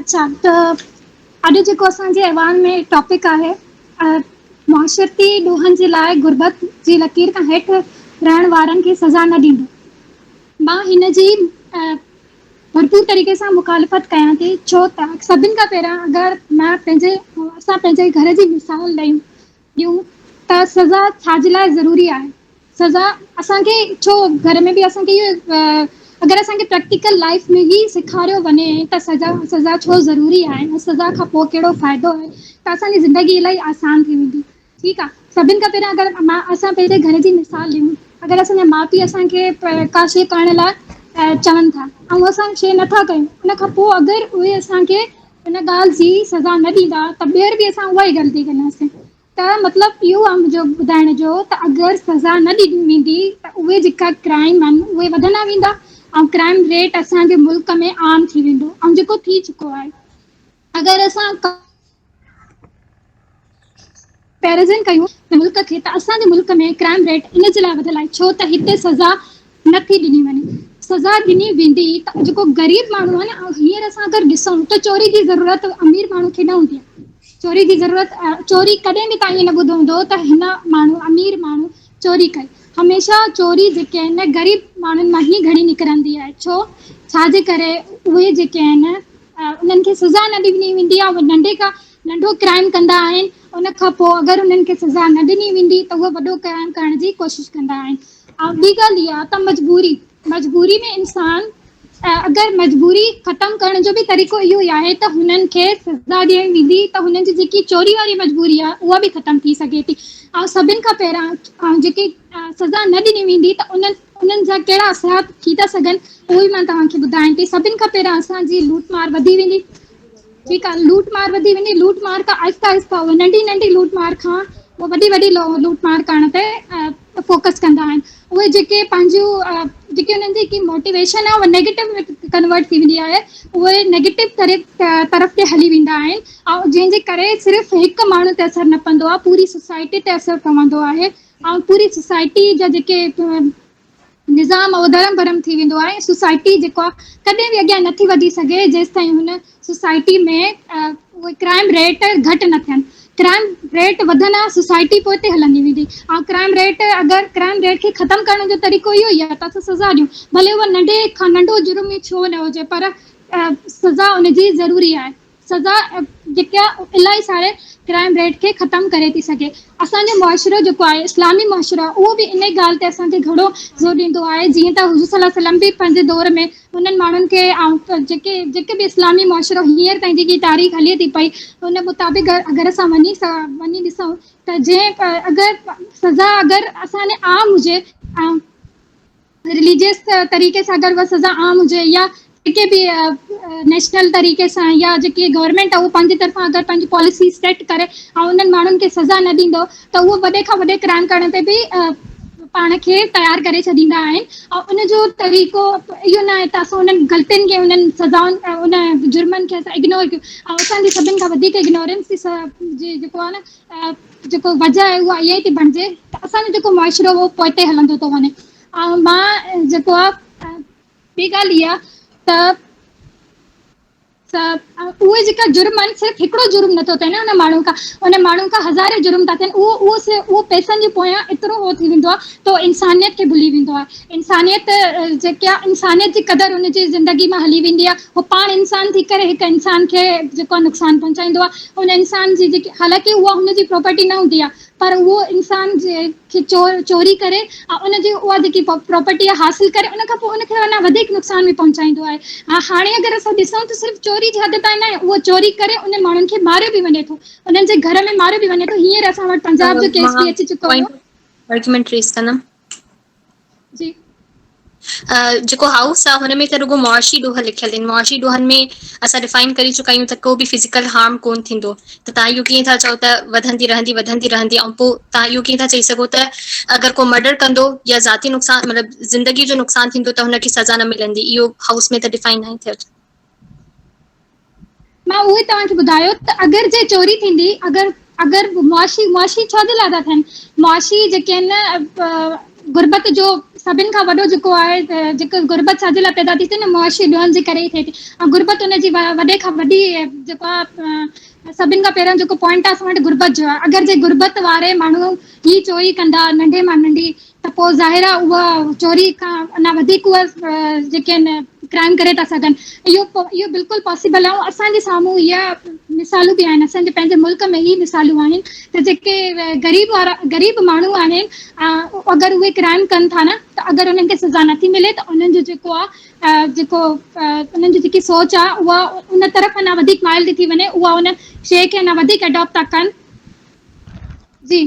اچھا ته اڄ جيڪو اسانجي ايوان ۾ ٽاپڪ آهي معاشرتي ڏوهن جي لاء غربت جي لڪير کان هيٺ رهڻ وارن کي سزا نه ڏيندو مان هن جي ڀرپور طريقي سان مخالفت ڪيان ٿي ڇو ته سڀن کان پهريان اگر مان پنهنجي اسان پنهنجي گهر جي مثال ڏيون ڏيون ته سزا ڇا جي لاء ضروري آهي سزا اسان کي ڇو گهر ۾ به اسان کي اگر اسان کي پريڪٽيڪل لائف ۾ هي سيکاريو وڃي ته سزا سزا ڇو ضروري آهي ۽ سزا کان پوء ڪهڙو فائدو آهي ته اسانجي زندگي الائي آسان ٿي ويندي ٺيڪ آ سڀن کان پهريان اگر مان اسان پنهنجي گهر جي مثال ڏيون اگر اسان جا ماء پي اسان کي ڪا شي ڪرڻ لاء چون ٿا ۽ اسان شي نٿا ڪيون ان کان پوء اگر اهي اسان کي ان ڳالهه جي سزا نه ڏيندا ته ٻيهر به اسان اها ئي غلطي ڪنداسين. ته مطلب اهو آ منهنجو ٻڌائڻ جو ته اگر سزا نه ڏني ويندي ته اهي جيڪا ڪرائم آهن اهي وڌندا ويندا ۽ ڪرائم ريٽ اسان جي ملڪ ۾ عام ٿي ويندو ۽ جيڪو ٿي چڪو آهي. اگر اسان پيرزن ڪيون ته ملڪ کي ته اسان جي ملڪ ۾ ڪرائم ريٽ ان جي لاء وڌيل آهي ڇو ته هتي سزا نٿي ڏني وڃي سزا ڏني ويندي ته جيڪو غريب ماڻهو آهي ن هينئر اسان اگر ڏسون ته چوري جي ضرورت امير ماڻهو کي نه هوندي آهي چوري جي ضرورت چوري ڪڏهن به تائين نه ٻڌو هوندو ته هن ماڻهو امير ماڻهو چوري ڪئي هميشه چوري جيڪي آهن ن غريب ماڻهن مان هي گهڻي نڪرندي آهي ڇو ڇاجي ڪري اهي جيڪي آهن انهن کي سزا نه ڏني ويندي آهي ننڍي کان ننڍو ڪرائيم ڪندا آهن ان کان پوء اگر انهن کي سزا نه ڏني ويندي ته اهي وڏو ڪرائيم ڪرڻ جي ڪوشش ڪندا آهن ۽ ٻي ڳالهه اها ته مجبوري مجبوري ۾ انسان اگر مجبوري ختم ڪرڻ جو به طريقو اهو ئي آهي ته هنن کي سزا ڏيڻ ويندي ته هنن جي جيڪي چوري واري مجبوري آهي اها به ختم ٿي سگهي ٿي ۽ سڀن کان پهريان جيڪي سزا نه ڏني ويندي ته انهن انهن جا ڪهڙا اثرات ٿي ٿا سگهن اهو ئي مان توهان کي ٻڌايان ٿي سڀن کان پهريان اسان جي لوٽ مار وڌي ويندي ٺيڪ آ لوٽ مار وڌي وڃي لوٽ مار کان آهسته آهسته ننڍي ننڍي لوٽ مار کان پوء وڏي وڏي لوٽ مار ڪرڻ تي فوڪس ڪندا آهن اهي جيڪي پنهنجون جيڪي انهن جي هڪ موٽيويشن آهي اها نيگيٽو ۾ ڪنورٽ ٿي ويندي آهي اهي نيگيٽو طرف طرف تي هلي ويندا آهن ۽ جنهن جي ڪري صرف هڪ ماڻهو تي اثر نه پوندو آهي پوري سوسائٽي تي اثر پوندو آهي ۽ پوري سوسائٽي جا جيڪي نظام اڌرم ڀرم ٿي ويندو آهي ۽ سوسائٽي جيڪا ڪڏهن به اڳيان نٿي وڌي سگهي جيستائين هن سوسائٽي ۾ اهي ڪرائم ريٽ گهٽ نه ٿين. ڪرائم ريٽ وڌندا سوسائٽي پوئتي هلندي ويندي ۽ ڪرائم ريٽ اگر ڪرائم ريٽ کي ختم ڪرڻ جو طريقو اهو ئي آهي ته اسان سزا ڏيون ڀلي اهو ننڍي کان ننڍو جرم ئي ڇو نه هجي پر سزا ان جي ضروري آهي سزا جيڪا الاهي ساري ڪرائيم ريٽ کي ختم ڪري ٿي سگهي اسان جو معاشرو جيڪو آهي اسلامي معاشرو آهي اهو به انهي ڳالهه تي اسان کي گهڻو زور ڏيندو آهي جيئن ته حضور صلي الله عليه وسلم به پنهنجي دور ۾ انهن ماڻهن کي جيڪي جيڪي به اسلامي معاشرو هينئر تائين جيڪي تاريخ هلي ٿي پئي ان مطابق اگر اسان وڃي وڃي ڏسون ته جنهن اگر سزا اگر اسان ڏي عام هجي ۽ رليجيس طريقي سان اگر اها سزا عام هجي يا جيڪي به نيشنل طريقي سان يا جيڪي گورنمينٽ اهو پنهنجي طرفان اگر پنهنجي پاليسي سيٽ ڪري ۽ انهن ماڻهن کي سزا نه ڏيندو ته اهو وڏي کان وڏي ڪرائم ڪرڻ تي به پاڻ کي تيار ڪري ڇڏيندا آهن ۽ ان جو طريقو اهو نه آهي ته اسان انهن غلطين کي انهن سزائن ان جرمن کي اسان اگنور ڪيون ۽ اسان جي سڀن کان وڌيڪ اگنورينس جي جيڪو آهي نه جيڪو وجه آهي اها اها ئي ٿي بڻجي ته اسانجو جيڪو معاشرو هو پوئتي هلندو ٿو وڃي. ۽ مان جيڪو آ ٻي ڳالهه اها ته اهي جيڪا جرم آهن صرف هڪڙو جرم نٿو ٿئي نه هن ماڻهو کان ان ماڻهو کان هزارين جرم ٿا ٿين اهو اهو اهو پئسن جي پويان ايترو هو ٿي ويندو آ تو انسانيت کي ڀلي ويندو آ. انسانيت جيڪي آ انسانيت جي قدر ان جي زندگي مان هلي ويندي آ هو پاڻ انسان ٿي ڪري هڪ انسان کي جيڪو نقصان پهچائيندو آ ان انسان جي جيڪي حالانڪه اها هن جي پراپرٽي نه هوندي آ پر اهو انسان جي کي چور چوري ڪري ۽ ان جي اها جيڪي پراپرٽي آ حاصل ڪري ان کان پو ان کي اڃا وڌيڪ نقصان به پهچائيندو آهي ها هاڻي اگر اسان ڏسون ته صرف چوري جي حد تائين ناهي اهو چوري ڪري ان ماڻهن کي ماريو به وڃي ٿو انهن جي گهر ۾ ماريو به وڃي ٿو هينئر اسان وٽ پنجاب جو ڪيس به اچي چڪو هو. مان هڪ منٽ ريس ڪندم جي جيڪو هائوس آ هن ۾ ته رڳو معاشي ڏوهه لکيل آهن معاشي ڏوهن ۾ اسان ڊفائن ڪري چڪا آهيون ته ڪو به فزيڪل هارم ڪون ٿيندو ته تان اهو ڪيئن ٿا چئو ته وڌندي رهندي وڌندي رهندي ۽ پوء تان اهو ڪيئن ٿا چئي سگهو ته اگر ڪو مرڊر ڪندو يا ذاتي نقصان مطلب زندگي جو نقصان ٿيندو ته هن کي سزا نه ملندي اهو هائوس ۾ ته ڊفائن ناهي ٿيل مان اهو ئي توهان کي ٻڌايو ته اگر جي چوري ٿيندي اگر اگر معاشي معاشي ڇو جي لاء ٿا ٿين معاشي جيڪي آهن غربت جو سڀن کان وڏو جيڪو آهي جيڪو غربت ڇا جي لاء پيدا ٿي ٿي ن معاشي ڏوهن جي ڪري ئي ٿئي ٿي ۽ غربت ان جي وڏي کان وڏي جيڪو آهي سڀن کان پهريون جيڪو پوائنٽ آهي اسان وٽ غربت جو آهي اگر جي غربت واري ماڻهو هي چوري ڪندا ننڍي مان ننڍي ته پوء ظاهر آ اهو چوري کان اڃا وڌيڪ اهي جيڪي آهن ڪرائيم ڪري ٿا سگهن اهو اهو بلڪل پاسبل آهي اسان جي سامهون هي مثالون به آهن اسان جي پنهنجي ملڪ ۾ هي مثالون آهن ته جيڪي غريب وارا غريب ماڻهو آهن اگر اهي ڪرائم ڪن ٿا نه ته اگر انهن کي سزا نٿي ملي ته انهن جو جيڪو آ جيڪو انهن جي جيڪي سوچ آ اها ان طرف اڃا وڌيڪ مائل ٿي ٿي وڃي اها ان شيء کي اڃا وڌيڪ اڊاپٽ ٿا ڪن جي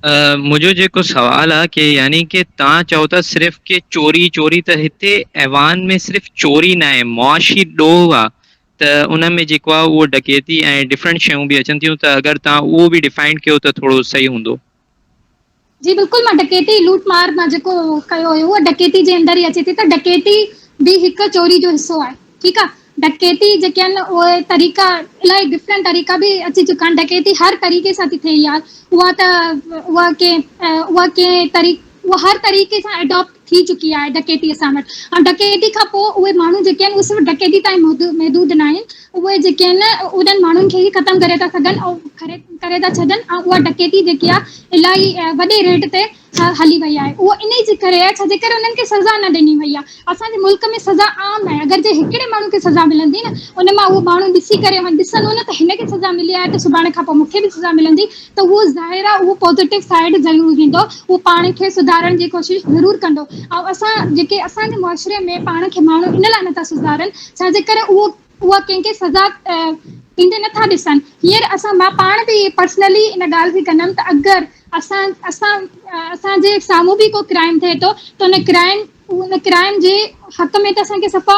منهنجو جيڪو سوال آ ڪي يعني ڪي تان چئو ٿا صرف ڪي چوري چوري ته هتي ايوان ۾ صرف چوري ناهي معاشي ڏوهه آ ته ان ۾ جيڪو آ اهو ڊڪيتي ۽ ڊفرنٽ شيون به اچن ٿيون ته اگر تان اهو به ڊفائنڊ ڪيو ته ٿورو صحيح هوندو. جي بلڪل مان ڊڪيتي لوٽ مار مان جيڪو ڪيو هيو اهو ڊڪيتي جي اندر ئي اچي ٿي ته ڊڪيتي به هڪ چوري جو حصو آهي. ٺيڪ آ ڊڪيتي جيڪي آھن اھي طريقا الاھي ڊفرينٽ طريقا به اچي چڪا آھن ڊڪيتي ھر طريقي سان ٿي ٿئي يار اھا ته اھا ڪي اھا ڪي طري اھا ھر طريقي سان اڊاپٽ ٿي چڪي آھي ڊڪيتي اسان وٽ ۽ ڊڪيتي کان پوء اھي ماڻھو جيڪي آھن اھي صرف ڊڪيتي تائين محدود نه آھن اھي جيڪي آھن انھن ماڻھن کي ئي ختم ڪري ٿا سگھن ۽ ڪري ڪري ٿا ڇڏن ۽ اھا ڊڪيتي جيڪي آ الاھي وڏي ريٽ تي هلي وئي آهي اهو انهي جي ڪري آهي ڇاجي ڪري انهن کي سزا نه ڏني وئي آهي اسان جي ملڪ ۾ سزا عام آهي اگر جي هڪڙي ماڻهو کي سزا ملندي نه ان مان اهو ماڻهو ڏسي ڪري هن ڏسندو نه ته هن کي سزا ملي آهي ته سڀاڻي کان پوء مون کي به سزا ملندي ته اهو ظاهر آهي اهو پوزيٽو سائيڊ ضرور ويندو اهو پاڻ کي سڌارڻ جي ڪوشش ضرور ڪندو ۽ اسان جيڪي اسان جي معاشري ۾ پاڻ کي ماڻهو ان لاء نه ٿا سڌارن ڇاجي ڪري اهو اها ڪنهن کي سزا ڏيندي نه ٿا ڏسن. هينئر اسان مان پاڻ به پرسنلي ان ڳالهه کي ڪندم ته اگر اسان اسان اسان جي سامهون به ڪو ڪرائم ٿئي ٿو ته ان ڪرائم ان ڪرائم جي حق ۾ ته اسان کي صفا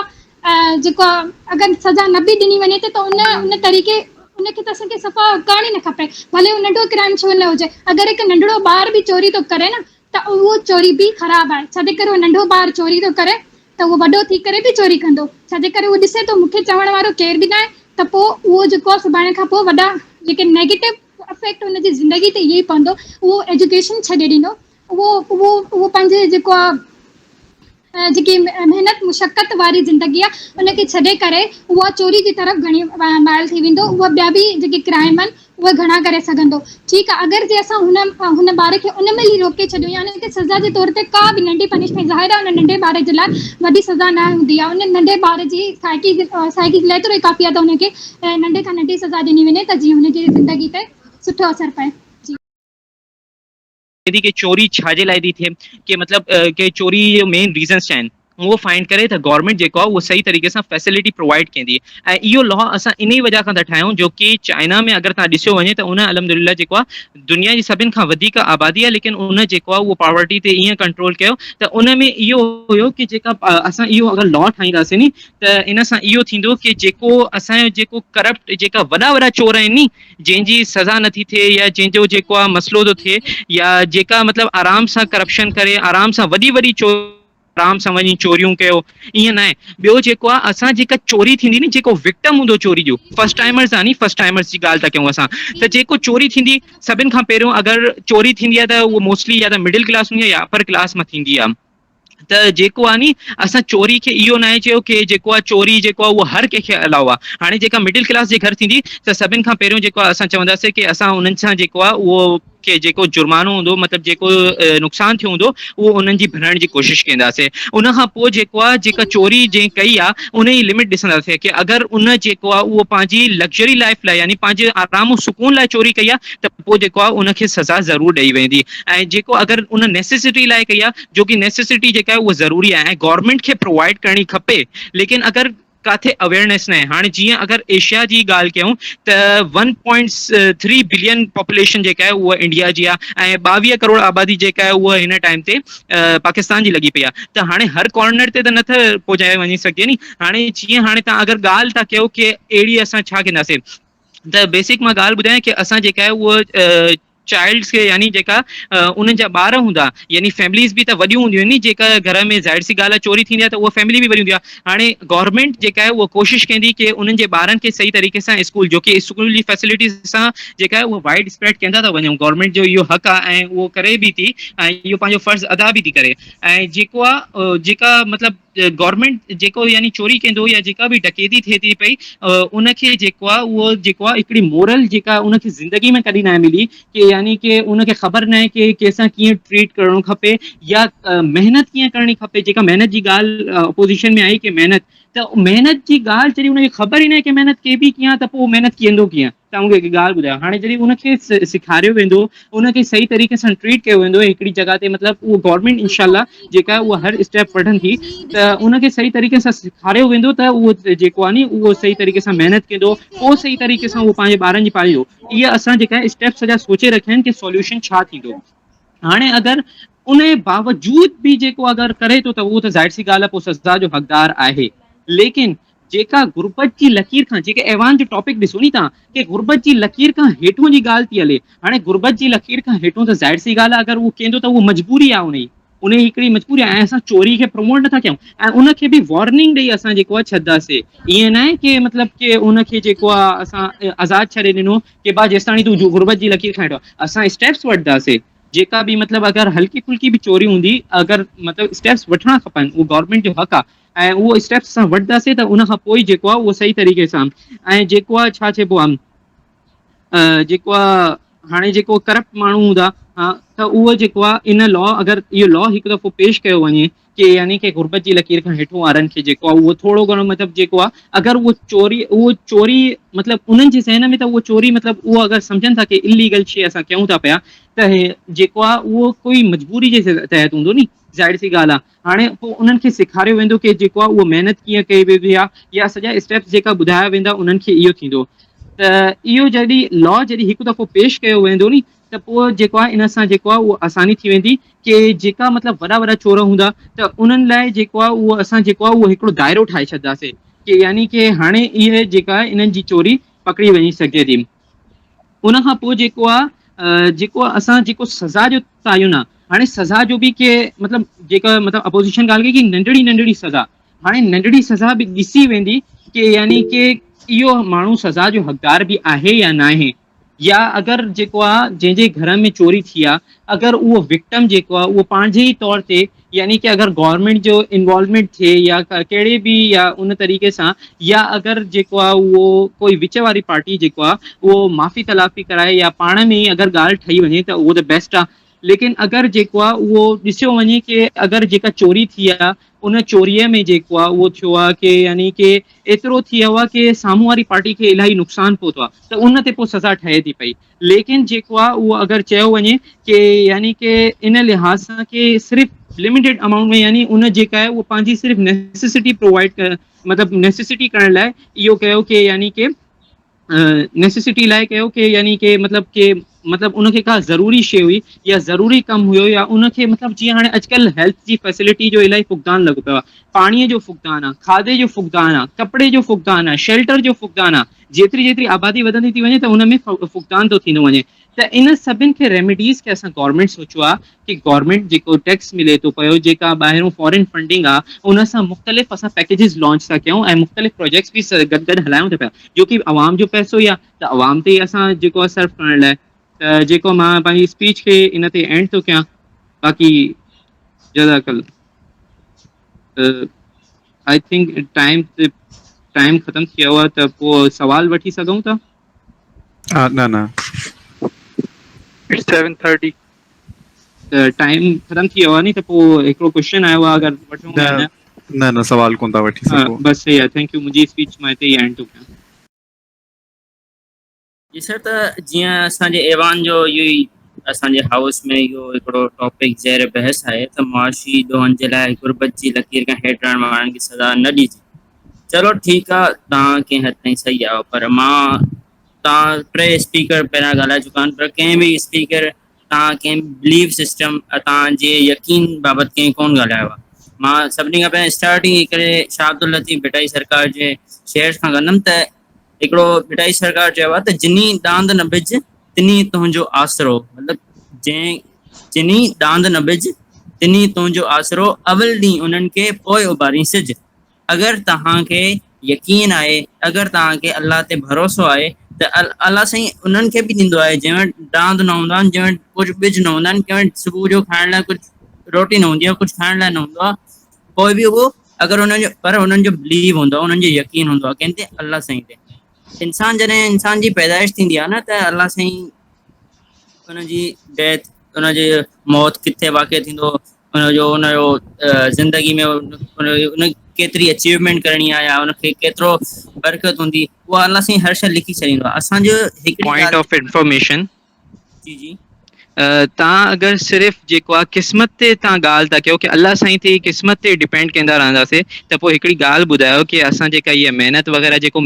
جيڪو آ اگر سزا نه به ڏني وڃي ته ان جي ان طريقي ان کي ته اسان کي صفا ڪرڻ ئي نه کپي ڀلي هو ننڍو ڪرائم ڇو نه هجي اگر هڪ ننڍڙو ٻار به چوري ٿو ڪري نه ته اهو چوري به خراب آهي ڇاجي ڪري هو ننڍو ٻار چوري ٿو ڪري ته اهو وڏو ٿي ڪري به چوري ڪندو، ڇا جي ڪري اهو ڏسي ٿو مون کي چوڻ وارو ڪير به ناهي ته پوء اهو جيڪو آهي سڀاڻي کان پوء وڏا جيڪي نيگيٽو افيڪٽ ان جي زندگي تي اهو ئي پوندو، اهو ايجوڪيشن ڇڏي ڏيندو، اهو اهو اهو پنهنجي جيڪو آهي جيڪي محنت مشقت واري زندگي آهي ان کي ڇڏي ڪري اهو چوري جي طرف گهڻي مائل ٿي ويندو، اهو ٻيا به جيڪي ڪرائمن اهي گهڻا ڪري سگهندو. ٺيڪ آ اگر جي اسان هن هن ٻار کي ان مهل ئي روڪي ڇڏيون يا ان کي سزا جي طور تي ڪا به ننڍي پنشمينٽ ظاهر آ ان ننڍي ٻار جي لاء وڏي سزا نه هوندي آ ان ننڍي ٻار جي سائيڪي سائيڪي جي لاء ايترو ئي ڪافي آ ته ان کي ننڍي کان ننڍي سزا ڏني وڃي ته جيئن ان جي زندگي تي سٺو اثر پئي. ٿي ڪي چوري ڇا جي لاء ٿي ٿئي ڪي مطلب ڪي چوري جو مين ريزنس ڇا آهن اهو فائنڊ ڪري ته گورمينٽ جيڪو آهي اهو صحيح طريقي سان فيسلٽي پرووائيڊ ڪيندي ۽ اهو لا اسان انهي وجه کان ٿا ٺاهيون جو ڪي چائنا ۾ اگر تهان ڏسيو وڃي ته ان الحمدلله جيڪو آهي دنيا جي سڀن کان وڌيڪ آبادي آهي ليڪن ان جيڪو آهي اهو پاورٽي تي ايئن ڪنٽرول ڪيو ته ان ۾ اهو هيو ڪي جيڪا اسان اهو اگر لا ٺاهينداسين ني ته ان سان اهو ٿيندو ڪي جيڪو اسان جو جيڪو ڪرپٽ جيڪا وڏا وڏا چور آهن ني جنهن جي سزا نٿي ٿئي يا جنهن جو جيڪو آ مسئلو ٿو ٿئي يا جيڪا مطلب آرام سان ڪرپشن ڪري آرام سان وڏي وڏي چور آرام سان وڃي چوريون ڪيو ائين ناهي ٻيو جيڪو آ اسان جيڪا چوري ٿيندي ني جيڪو وڪٽم هوندو چوري جو فرسٽ ٽائمرز آ ني فرسٽ ٽائمرز جي ڳالهه ته ڪيون اسان ته جيڪو چوري ٿيندي سڀن کان پهريون اگر چوري ٿيندي آ ته اهو موسٽلي يا ته مڊل ڪلاس هوندي آ يا اپر ڪلاس مان ٿيندي آ ته جيڪو آ ني اسان چوري کي اهو ناهي چيو ڪي جيڪو آ چوري جيڪو آ اهو هر ڪنهن کي الاء آ. هاڻي جيڪا مڊل ڪلاس جي گهر ٿيندي ته سڀن کان پهريون جيڪو آ اسان چونداسين ڪي اسان انهن سان جيڪو آ اهو ڪي جيڪو جرمانو هوندو مطلب جيڪو نقصان ٿيو هوندو اهو انهن جي ڀرڻ جي ڪوشش ڪينداسين. ان کان پوء جيڪو آ جيڪا چوري جنهن ڪئي آ ان جي لمٽ ڏسنداسين ڪي اگر ان جيڪو آ اهو پنهنجي لگزري لائف لاء يعني پنهنجي آرام سڪون لاء چوري ڪئي آ ته پوء جيڪو آهي ان کي سزا ضرور ڏئي ويندي ۽ جيڪو اگر ان نيسيسٽي لاء ڪئي آهي جو ڪي نيسيسٽي جيڪا آهي اها ضروري آهي ۽ گورنمينٽ کي پرووائيڊ ڪرڻي کپي ليڪن اگر ڪاٿي اويئرنيس ناهي هاڻي جيئن اگر ايشيا جي ڳالهه ڪيون ته one point three billion population جيڪا آهي اها انڊيا جي آهي ۽ ٻاويهه ڪروڙ آبادي جيڪا آهي اها هن ٽائم تي پاڪستان جي لڳي پئي آهي ته هاڻي هر ڪارنر تي ته نٿ پهچايو وڃي سگهجي ني هاڻي جيئن هاڻي تان اگر ڳالهه ٿا ڪيو ڪي اهڙي اسان ڇا ڪنداسين ته بيسڪ مان ڳالهه ٻڌايان ڪي اسان جيڪا آهي اهو چائلڊس کي يعني جيڪا انهن جا ٻار هوندا يعني فيمليز به ته وڏيون هونديون آهن ن جيڪا گهر ۾ ظاهر سي ڳالهه چوري ٿيندي آهي ته اها فيملي به وڏي هوندي آهي هاڻي گورنمينٽ جيڪا آهي اها ڪوشش ڪندي ڪي انهن جي ٻارن کي صحيح طريقي سان اسڪول جو ڪي اسڪول جي فيسلٽيز سان جيڪا آهي اهو وائڊ اسپريڊ ڪندا ته وڃون گورنمينٽ جو اهو حق آهي ۽ اهو ڪري به ٿي ۽ اهو پنهنجو فرض ادا به ٿي ڪري ۽ جيڪو آهي جيڪا مطلب گورنمينٽ جيڪو يعني چوري ڪندو يا جيڪا به ڊڪيتي ٿئي ٿي پئي ان کي جيڪو آ اهو جيڪو آ هڪڙي مورل جيڪا ان کي زندگي ۾ ڪڏهن ناهي ملي ڪي يعني ڪي ان کي خبر ناهي ڪي ڪيسان ڪيئن ٽريٽ ڪرڻو کپي يا محنت ڪيئن ڪرڻي کپي جيڪا محنت جي ڳالهه اپوزيشن ۾ آئي ڪي محنت ته محنت جي ڳالهه جڏهن ان کي خبر ئي ناهي ڪي محنت ڪئبي ڪيئن ته پو محنت ڪيندو ڪيئن تون کي هڪ ڳالهه ٻڌايان هاڻي جڏهن ان کي سيکاريو ويندو ان کي صحيح طريقي سان ٽريٽ ڪيو ويندو هڪڙي جڳهه تي مطلب اهو گورنمينٽ انشاء الله جيڪا اها هر اسٽيپ وٺندي ته ان کي صحيح طريقي سان سيکاريو ويندو ته اهو جيڪو آهي ني اهو صحيح طريقي سان محنت ڪندو پوء صحيح طريقي سان اهو پنهنجي ٻارن جي پاليندو اها اسان جيڪا اسٽيپ سڄا سوچي رکيا آهن ڪي سوليوشن ڇا ٿيندو هاڻي اگر انهي باوجود به جيڪو اگر ڪري ٿو ته اهو ته ظاهر سي ڳالهه آهي پوء سزا جو حقدار آهي ليڪن جيڪا غربت جي لڪير کان جيڪي ايوان جو ٽاپڪ ڏسو ني توهان ڪي غربت جي لڪير کان هيٺون جي ڳالهه ٿي هلي هاڻي غربت جي لڪير کان هيٺون ته ظاهر سي ڳالهه آهي اگر اهو ڪيندو ته اهو مجبوري آهي انهي انهي هڪڙي مجبوري آهي ۽ اسان چوري کي پروموٽ نٿا ڪيون ۽ ان کي به وارننگ ڏئي اسان جيڪو آهي ڇڏداسي ائين نه آهي ڪي مطلب ڪي ان کي جيڪو آهي اسان آزاد ڇڏي ڏنو ڪي با جيستاڻي تون غربت جي لڪير کان هيٺ آهي اسان اسٽيپس وٺداسي جيڪا به مطلب اگر هلڪي ڦلڪي به چوري هوندي اگر مطلب اسٽيپس وٺڻا کپن اهو گورنمينٽ جو حق آ. ۽ اهو اسٽيپس اسان وٺنداسين ته ان کان پوء ئي جيڪو آ اهو صحيح طريقي سان ۽ جيڪو آ ڇا چئبو آ جيڪو آ هاڻي جيڪو ڪرپٽ ماڻهو هوندا ها ته اهو جيڪو آ ان لا اگر اهو لا هڪ دفعو پيش ڪيو وڃي ڪي يعني ڪي غربت جي لڪير کان هيٺون وارن کي جيڪو آهي اهو ٿورو گهڻو مطلب جيڪو آهي اگر اهو چوري اهو چوري مطلب انهن جي ذهن ۾ ته اهو چوري مطلب اهو اگر سمجهن ٿا ڪي اليگل شي اسان ڪيون ٿا پيا ته هي جيڪو آهي اهو ڪوئي مجبوري جي تحت هوندو ني ظاهر سي ڳالهه آهي هاڻي پوء انهن کي سيکاريو ويندو ڪي جيڪو آهي اهو محنت ڪيئن ڪئي ويبي آهي يا سڄا اسٽيپس جيڪا ٻڌايا ويندا انهن کي اهو ٿيندو ته اهو جڏهن لا جڏهن هڪ دفعو پيش ڪيو ويندو ني ته پوء جيڪو آهي ان سان جيڪو آهي اهو آساني ٿي ويندي ڪي جيڪا مطلب وڏا وڏا چور هوندا ته انهن لاء جيڪو آهي اهو اسان جيڪو آهي اهو هڪڙو دائرو ٺاهي ڇڏداسي ڪي يعني ڪي هاڻي اهي جيڪا آهي انهن جي چوري پڪڙي وڃي سگهجي ٿي. ان کان پوء جيڪو آهي جيڪو اسان جيڪو سزا جو تعين آهي هاڻي سزا جو به ڪي مطلب جيڪا مطلب اپوزيشن ڳالهه ڪئي ڪي ننڍڙي ننڍڙي سزا هاڻي ننڍڙي سزا به ڏسي ويندي ڪي يعني ڪي اهو ماڻهو سزا جو حقدار به آهي يا ناهي يا اگر جيڪو آ جنهن جي گهر ۾ چوري ٿي آ اگر اهو وڪٽم جيڪو آ اهو پنهنجي ئي طور تي يعني ڪي اگر گورنمينٽ جو انوالومينٽ ٿئي يا ڪهڙي به يا ان طريقي سان يا اگر جيڪو آ اهو ڪوئي وچ واري پارٽي جيڪو آ اهو معافي تلافي ڪرائي يا پاڻ ۾ ئي اگر ڳالهه ٺهي وڃي ته اهو ته بيسٽ آ ليڪن اگر جيڪو آ اهو ڏسيو وڃي ڪي اگر جيڪا چوري ٿي آ ان چوريء ۾ جيڪو آ اهو ٿيو آ ڪي يعني ڪي ايترو ٿي ويو آ ڪي سامهون واري پارٽي کي الاهي نقصان پهتو آ ته ان تي پوء سزا ٺهي ٿي پئي ليڪن جيڪو آ اهو اگر چيو وڃي ڪي يعني ڪي ان لحاظ سان ڪي صرف لميٽيڊ امائونٽ ۾ يعني ان جيڪا آهي اهو پنهنجي صرف نيسيسٽي پرووائيڊ ڪرڻ مطلب نيسيسٽي ڪرڻ لاء اهو ڪيو ڪي يعني ڪي نيسيسٽي لاء ڪيو ڪي يعني ڪي مطلب ڪي مطلب ان کي ڪا ضروري شيء هئي يا ضروري ڪم هيو يا ان کي مطلب جيئن هاڻي اڄڪلهه هيلٿ جي فيسلٽي جو الائي فقدان لڳو پيو آ پاڻيء جو فقدان آ کاڌي جو فقدان آ ڪپڙي جو فقدان آ شيلٽر جو فقدان آ جيتري جيتري آبادي وڌندي ٿي وڃي ته ان ۾ فقدان ٿو ٿيندو وڃي ته ان سڀن کي ريميڊيز کي اسان گورنمينٽ سوچيو آ ڪي گورنمينٽ جيڪو ٽيڪس ملي ٿو پيو جيڪا ٻاهرون فارين فنڊنگ آ ان سان مختلف اسان پيڪيجز لانچ ٿا ڪيون ۽ مختلف پروجيڪٽس به گڏ گڏ هلايون ٿا پيا جو ڪي عوام جو پئسو ئي آ ته عوام تي ئي اسان جيڪو آ صرف ڪرڻ لاء ته جيڪو مان پنهنجي اسپيچ کي ان تي اينڊ ٿو ڪيان باقي جزاڪ الله آئي ٿنڪ ٽائيم ٽائيم ختم ٿي ويو آ ته پوء سوال وٺي سگهون ٿا ها نه نه اٽس سيون ٿرٽي ته ٽائيم ختم ٿي ويو آهي ني ته پوء هڪڙو ڪوشچن آيو آهي اگر وٺون نه يا نه نه سوال ڪون ٿا وٺي ها سگهو بس صحيح آهي ٿينڪ يو منهنجي اسپيچ مان هتي ئي اينڊ ٿو ڪيان جي سر ته جيئن اسان جي ايوان جو اهو ئي اسان جي هائوس ۾ اهو هڪڙو ٽاپڪ زير بحث آهي ته معاشي ڏوهن جي لاء غربت جي لڪير کان هيٺ رهڻ وارن کي سزا نه ڏجي چلو ٺيڪ آ تان ڪنهن حد تائين صحيح آيو پر مان تان ٽي اسپيڪر پهريان ڳالهائي چڪا آهن پر ڪنهن به اسپيڪر تان ڪنهن بليف سسٽم ۽ تانجي يقين بابت ڪنهن ڪون ڳالهايو آ مان سڀني کان پهرين اسٽارٽنگ ئي ڪري شاهه عبداللطيف ڀٽائي سرڪار جي شعر کان ڪندم ته هڪڙو ڀٽائي سرڪار چيو آ ته جني ڏاند نه بج تني تنهنجو آسرو مطلب جنهن جني ڏاند نه بج تني تنهنجو آسرو اول ڏينهن انهن کي پوء اڀارين سج اگر توهان کي يقين آهي، اگر توهان کي الله تي ڀروسو آهي ته الله سائين انهن کي به ڏيندو آهي جنهن وٽ ڏاند نه هوندا آهن، جنهن وٽ ڪجهه ٻج نه هوندا آهن، ڪنهن وٽ صبح جو کائڻ لاء ڪجهه روٽي نه هوندي آهي، ڪجهه کائڻ لاء نه هوندو آهي، پوء به اهو اگر انهن جو پر انهن جو بليو هوندو آهي، انهن جو يقين هوندو آهي ڪنهن تي الله سائين تي. انسان جڏهن انسان جي پيدائش ٿيندي آهي نه ته الله سائين ان جي ڊيٿ ان جي موت ڪٿي واقع ٿيندو، ان جو ان جو زندگي ۾ ان ڪيتري اچيومينٽ ڪرڻي آ يا ان کي ڪيترو برڪت هوندي اها الله سائين هر شئي لکي ڇڏيندو آ اسان جو هڪڙي پوائنٽ ڳالھ آف انفارميشن جي جي تان اگر صرف جيڪو آ قسمت تي تان ڳالھ ٿا ڪيو ڪي الله سائين تي قسمت تي ڊپينڊ ڪيندا رهنداسي ته پوء هڪڙي ڳالھ ٻڌايو ڪي اسان جيڪا هي محنت وغيره جيڪو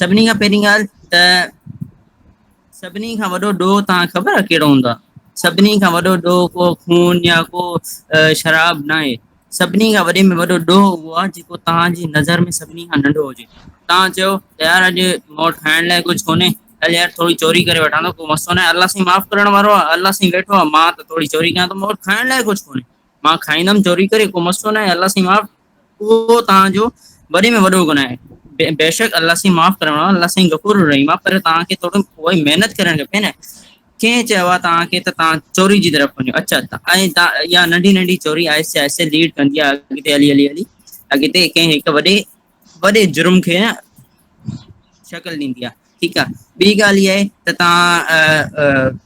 سڀني کان پهرين ڳالهه ته سڀني کان وڏو ڏوهه توهان خبر آهي ڪهڙو هوندو آهي سڀني کان وڏو ڏوهه ڪو خون يا ڪو شراب نه آهي سڀني کان وڏي ۾ وڏو ڏوهه اهو آهي جيڪو توهانجي نظر ۾ سڀني کان ننڍو هجي توهان چيو يار اڄ مون وٽ کائڻ لاء ڪجهه ڪونهي هل يار ٿوري چوري ڪري وٺان ٿو ڪو مسئلو نه آهي الله سائين معاف ڪرڻ وارو آهي الله سائين ويٺو آهي مان ته ٿوري چوري ڪيان ٿو مون وٽ کائڻ لاء ڪجهه ڪونهي مان کائيندم چوري ڪري ڪو مسئلو نه آهي الله سائين معاف اهو توهان جو وڏي ۾ وڏو گناهه آهي. بيشڪ الله سائين معاف ڪرڻ وارو الله سائين غفور الرحيم آ پر توهان کي ٿورو اهي محنت ڪرڻ کپي نه ڪنهن چيو آ توهان کي ته توهان چوري جي طرف وڃو اچا ۽ اها ننڍي ننڍي چوري آهستي آهستي ليڊ ڪندي آ اڳتي هلي هلي هلي اڳتي ڪنهن هڪ وڏي وڏي جرم کي نه شڪل ڏيندي آ ٺيڪ آ ٻي ڳالهه اها آهي ته توهان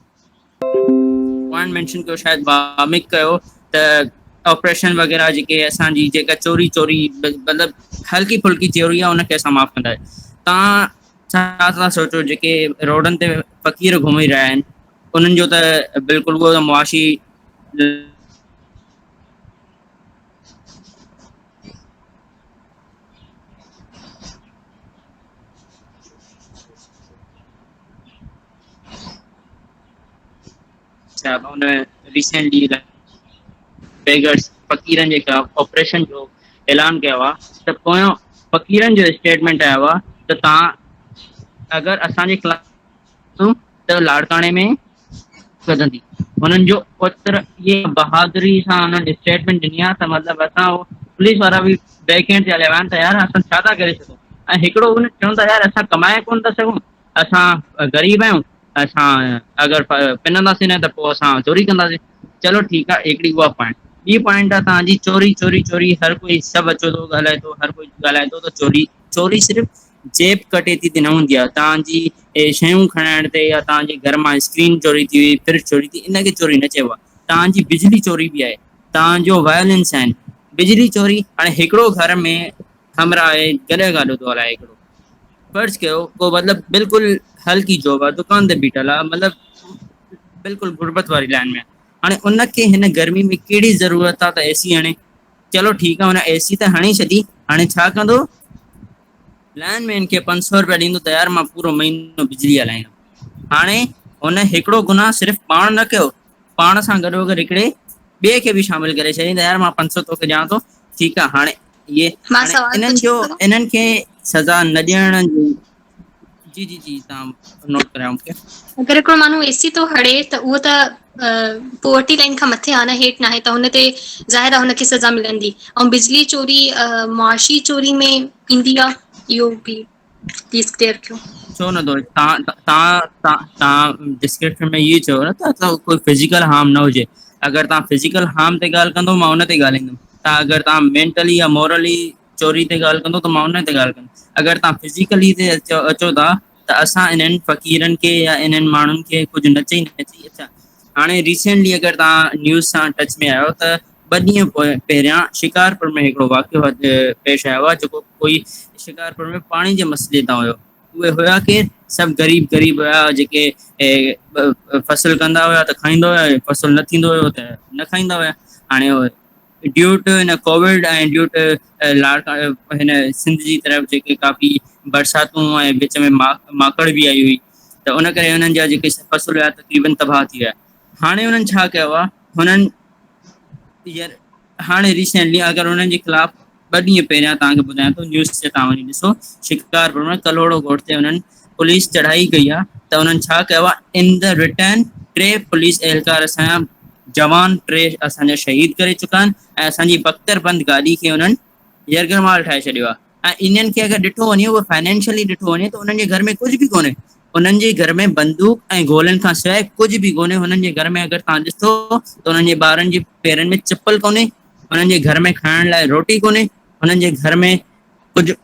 پوائنٽ مينشن ڪيو شايد باميڪ ڪيو ته آپريشن وغيره جيڪي اسان جي جيڪا چوري چوري مطلب هلڪي ڦلڪي چوري آهي ان کي اسان معاف ڪندا تان ڇا ٿا سوچو جيڪي روڊن تي فقير گهمي رهيا آهن انهن جو ته بلڪل اهو ته معاشي اچا ان ريسينٽلي بيگرس فقيرن جي خلاف آپريشن جو اعلان ڪيو آ ته پويان فقيرن جو اسٽيٽمنٽ آيو آ ته تهان اگر اسان جي خلاف ته لاڙڪاڻي ۾ سڌندي هنن جو پتر ايئي بهادري سان هنن اسٽيٽمنٽ ڏني آ ته مطلب اسان پوليس وارا به بيڪ هينڊ تي هليا ويا آهن ته يار اسان ڇا ٿا ڪري سگهون ۽ هڪڙو هو چون ٿا يار اسان ڪمائي ڪونه ٿا سگهون اسان غريب آهيون اسان اگر پننداسين نه ته پوء اسان چوري ڪنداسين چلو ٺيڪ آ هڪڙي اها پوائنٽ ٻي پوائنٽ آ تهان جي چوري چوري چوري هر ڪوئي سڀ اچو ٿو ڳالهائي ٿو هر ڪوئي ڳالهائي ٿو ته چوري چوري صرف جيب ڪٽي ٿي تي نه هوندي آ تهان جي اهي شيون کڻائڻ تي يا تهان جي گهر مان اسڪرين چوري ٿي وئي فرج چوري ٿي ان کي چوري نه چئبو آ تهان جي بجلي چوري به آهي تهان جو وائلنس آهن بجلي چوري هاڻي هڪڙو گهر ۾ همراهه آهي جڏهن ڳالهيو ٿو هلائي هڪڙو فرض ڪيو ڪو مطلب بلڪل هلڪي جاب آ دڪان تي بيٺل آ مطلب بلڪل غربت واري لائن ۾. هاڻي ان کي هن گرمي ۾ ڪهڙي ضرورت آ ته اي سي هڻي. چلو ٺيڪ آ هن اي سي ته هڻي ڇڏي هاڻي ڇا ڪندو لائن مين کي پنج سؤ روپيا ڏيندو ته يار مان پورو مهينو بجلي هلائيندم. هاڻي هن هڪڙو گناهه صرف پاڻ نه ڪيو پاڻ سان گڏو گڏ هڪڙي ٻئي کي به شامل ڪري ڇڏيائين ته يار مان پنج سؤ توکي ڏيان ٿو ٺيڪ آ هاڻي اهي مان هاڻي سوال انهن جو پڇاندو انهن کي سزا نه ڏيڻ جو جي جي جي تان نوٽ ڪريان مون کي اگر هڪڙو ماڻهو اي سي ٿو هڙي ته اهو ته پورٽي لائن کان مٿي آ نه هيٺ ن آهي ته هن تي ظاهر آ هنکي سزا ملندي ۽ بجلي چوري معاشي چوري ۾ ايندي آ اهو به تيس ڪليئر ڪيو ڇو نه ٿو تان تان تان تان ڊسڪرپشن ۾ اهي چيو نه ته ڪو فزيڪل هارم نه هجي اگر تان فزيڪل هارم تي ڳالهه ڪندو مان ان تي ڳالهندم تان اگر تان مينٽلي يا مورلي چوري تي ڳالهه ڪندو ته مان ان تي ڳالهه ڪندم اگر تان فزيڪلي تي اچو اچو ٿا ته اسان انهن فقيرن کي يا انهن ماڻهن کي ڪجهه نه چئي نه چئي اچا هاڻي ريسينٽلي اگر تان نيوز سان ٽچ ۾ آهيو ته ٻه ڏينهن پهريان شڪارپور ۾ هڪڙو واقعو پيش آيو آهي جيڪو ڪوئي شڪارپور ۾ پاڻي جي مسئلي تان هيو. اهي هيا ڪير؟ سڀ غريب غريب هيا جيڪي فصل ڪندا هيا ته کائيندا هيا ۽ فصل نه ٿيندو هيو ته نه کائيندا هيا. هاڻي ڊيوٽ هن ڪووڊ ۽ ڊيوٽ لاڙڪا هن سنڌ جي طرف جيڪي ڪافي برساتون ۽ وچ ۾ ماڪڙ به آئي هئي ته ان ڪري هنن جا جيڪي فصل هيا تقريبن تباهه ٿي ويا. هاڻي هنن ڇا ڪيو آهي هنن ير هاڻي ريسينٽلي اگر انهن جي خلاف ٻه ڏينهن پهريان توهان کي ٻڌايان ٿو نيوز تي توهان وڃي ڏسو شڪارپور ۾ ڪلهوڙو ڳوٺ تي انهن پوليس چڙهائي ڪئي آهي ته انهن ڇا ڪيو آهي ان دا رٽرن ٽي پوليس اهلڪار اسان جا جوان ٽي اسان جا شهيد ڪري چڪا آهن ۽ اسان جي بختر بند گاڏي کي انهن يرغمال ٺاهي ڇڏيو آ ۽ انهن کي اگر ڏٺو وڃي اهو فنانشلي ڏٺو وڃي ته انهن جي گهر ۾ ڪجهه به ڪونهي انهن جي گهر ۾ بندوق ۽ گولن کان سواء ڪجهه به ڪونهي هنن جي گهر ۾ اگر توهان ڏسو ته هنن جي ٻارن جي پيرن ۾ چپل ڪونهي هنن جي گهر ۾ کائڻ لاء روٽي ڪونهي هنن جي گهر ۾ ڪجهه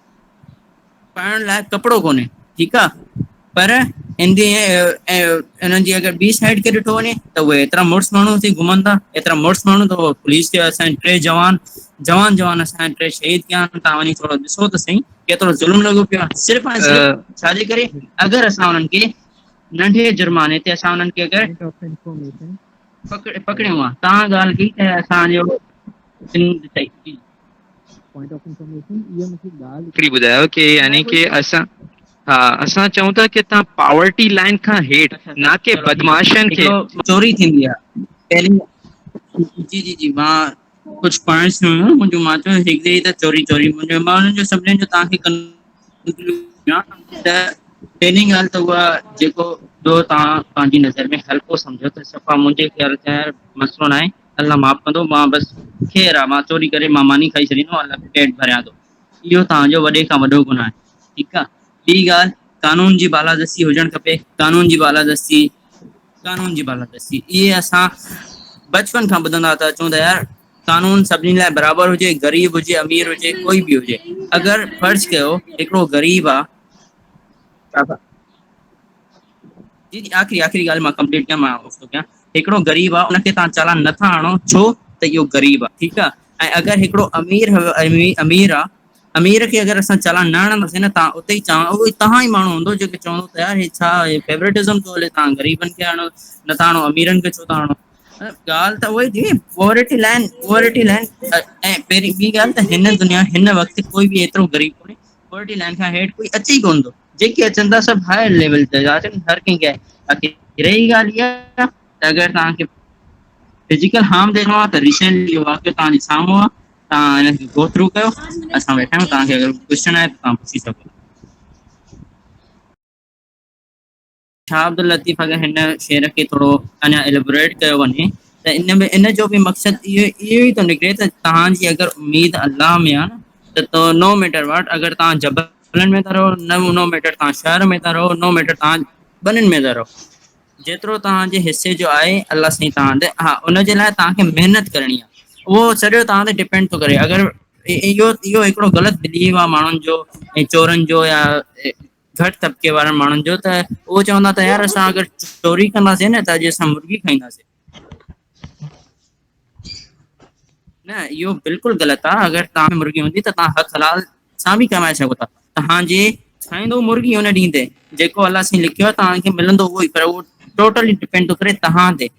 پائڻ لاء ڪپڙو ڪونهي ٺيڪ آ پر ان جي انهن جي اگر ٻي سائيڊ کي ڏٺو وڃي ته اهي ايترا مڙس ماڻهو ٿي گهمن ٿا ايترا مڙس ماڻهو ته پوليس کي اسان ٽي جوان جوان جوان اسان جا ٽي شهيد ٿيا آهن تهان وڃي ٿورو ڏسو ته سهي ڪيترو ظلم لڳو پيو آهي صرف ۽ صرف ڇا جي ڪري اگر اسان انهن کي ننڍي جرماني تي اسان انهن کي اگر پڪڙيون آ تهان ڳالهه ڪئي ته اسانجو پوائنٽ آف انفارميشن اها مون کي ڳالهه هڪڙي ٻڌايو ڪي يعني ڪي اسان ها اسان چئون ٿا ڪي تان پاورٽي لائين کان هيٺ نا ڪي بدمعاشن کي چوري ٿيندي آ پهرين جي جي جي مان ڪجهه پوائنٽس هيون منهنجو مان چيو هڪ دي ته چوري چوري منهنجو مان انهن جو سڀني جو تان کي ته پهرين ڳالهه ته اها جيڪو جو تان پنهنجي نظر ۾ هلڪو سمجهو ته صفا منهنجي خيال ۾ مسئلو ناهي الله معاف ڪندو مان بس خير آ مان چوري ڪري مان ماني کائي ڇڏيندو آهيان الله جو پيٽ ڀريان ٿو اهو توهان جو وڏي کان وڏو گناهه آهي ٺيڪ آ ٻي ڳالهه قانون جي بالادستي هجڻ کپي قانون جي بالادستي قانون جي بالادستي اهي اسان بچپن کان ٻڌندا ٿا اچون ته يار قانون سڀني لاء برابر هجي غريب هجي امير هجي ڪوئي به هجي اگر فرض ڪيو هڪڙو غريب آ جي جي آخري آخري ڳالهه مان ڪمپليٽ ڪيان مان اوف ٿو ڪيان هڪڙو غريب آ ان کي تهان چالان نٿا آڻو ڇو ته اهو غريب آ ٺيڪ آ ۽ اگر هڪڙو امير امير آ امير کي اگر اسان چالان نه آڻنداسين نه تهان اتي ئي چالان اهو تهان ئي ماڻهو هوندو جيڪو چوندو ته يار هي ڇا هي فيورٽزم ٿو هلي تهان غريبن کي آڻيو نٿا آڻو اميرن کي ڇو ٿا آڻو ڳالهه ته اهوئي ٿي پورٽي لائن پورٽي لائن ۽ پهرين ٻي ڳالهه ته هن دنيا هن وقت ڪوئي به ايترو غريب ڪونهي پورٽي لائن کان هيٺ ڪوئي اچي ڪون ٿو جيڪي اچن ٿا سڀ هاء ليول جا ٿا اچن هر ڪنهن کي باقي رهي ڳالهه اها ته اگر توهان کي فزيڪل هارم ڏينو آ ته ريسينٽلي اهو واقعو توهان جي سامهون آ توهان هن کي گو ٿرو ڪيو اسان ويٺا آهيون توهان کي اگر ڪجهه پڇڻو آهي ته توهان پڇي سگهو ٿا ڇا عبداللطيف اگر هن شعر کي ٿورو اڃا اليبوريٽ ڪيو وڃي ته ان ۾ ان جو به مقصد اهو اهو ئي ٿو نڪري ته توهان جي اگر اميد الله ۾ آ ته تو نو ميٽر واٽ اگر توهان جبلن ۾ ٿا رهو نه نو ميٽر توهان شهر ۾ ٿا رهو نو ميٽر توهان ٻنين ۾ ٿا رهو جيترو توهان جي حصي جو آهي الله سائين توهان تي ها ان جي لاء توهان کي محنت ڪرڻي آ اهو سڄو توهان تي ڊپينڊ ٿو ڪري اگر اهو اهو هڪڙو غلط بليف آ ماڻهن جو ۽ چورن جو يا گهٽ طبقي وارن ماڻهن جو ته اهو چوندا ته يار اسان اگر چوري ڪنداسين نه ته اڄ اسان مرغي کائينداسين نه اهو بلڪل غلط آ اگر توهان ۾ مرغي هوندي ته توهان حق حلال سان به ڪمائي سگهو ٿا توهان جي کائيندو مرغي ان ڏينهن تي جيڪو الله سائين لکيو آ توهان کي ملندو اهو ئي پر اهو ٽوٽلي ڊپينڊ ٿو ڪري توهان تي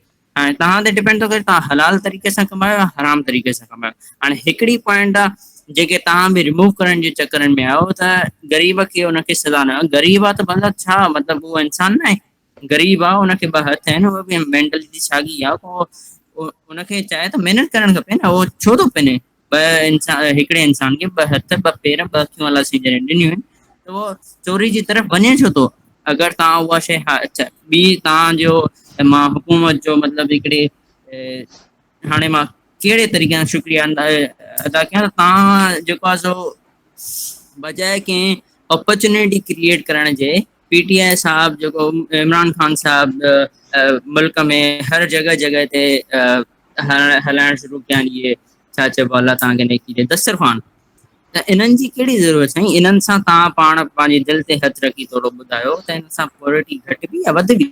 ۽ توهان تي ڊپينڊ ٿو ڪري توهان حلال طريقي سان ڪمايو يا حرام طريقي سان ڪمايو هاڻي هڪڙي پوائنٽ آ جيڪي توهان به رموو ڪرڻ جي چڪرن ۾ آهيو ته غريب کي ان کي سزا نه غريب آ ته ڀلا ڇا مطلب هو انسان ناهي غريب آ هن کي ٻه هٿ آهن هو به مينٽلٽي ساڳي آ ان کي چاهي ته محنت ڪرڻ کپي نه هو ڇو ٿو پڃي ٻه انسان هڪڙي انسان کي ٻه هٿ، ٻه پير، ٻه اکيون الله سائين جڏهن ڏنيون آهن ته اهو چوري جي طرف وڃي ڇو ٿو؟ اگر توهان اها شيء اچا ٻي توهان جو مان حڪومت جو مطلب هڪڙي هاڻي مان ڪهڙي طريقي سان شڪريا ادا ڪيان ته توهان جيڪو آهي سو بجاء ڪنهن اپرچونيٽي ڪريئيٽ ڪرڻ جي پي ٽي آء صاحب جيڪو عمران خان صاحب ملڪ ۾ هر جڳهه جڳهه تي هلائڻ شروع ڪيا آهن اهي ڇا چئبو آهي الله تعان کي نيڪي ڏي دسترخوان ته انهن جي ڪهڙي ضرورت سائين انهن سان توهان پاڻ پنهنجي دل تي هٿ رکي ٿورو ٻڌايو ته ان سان پورٽي گهٽ بي يا وڌ بي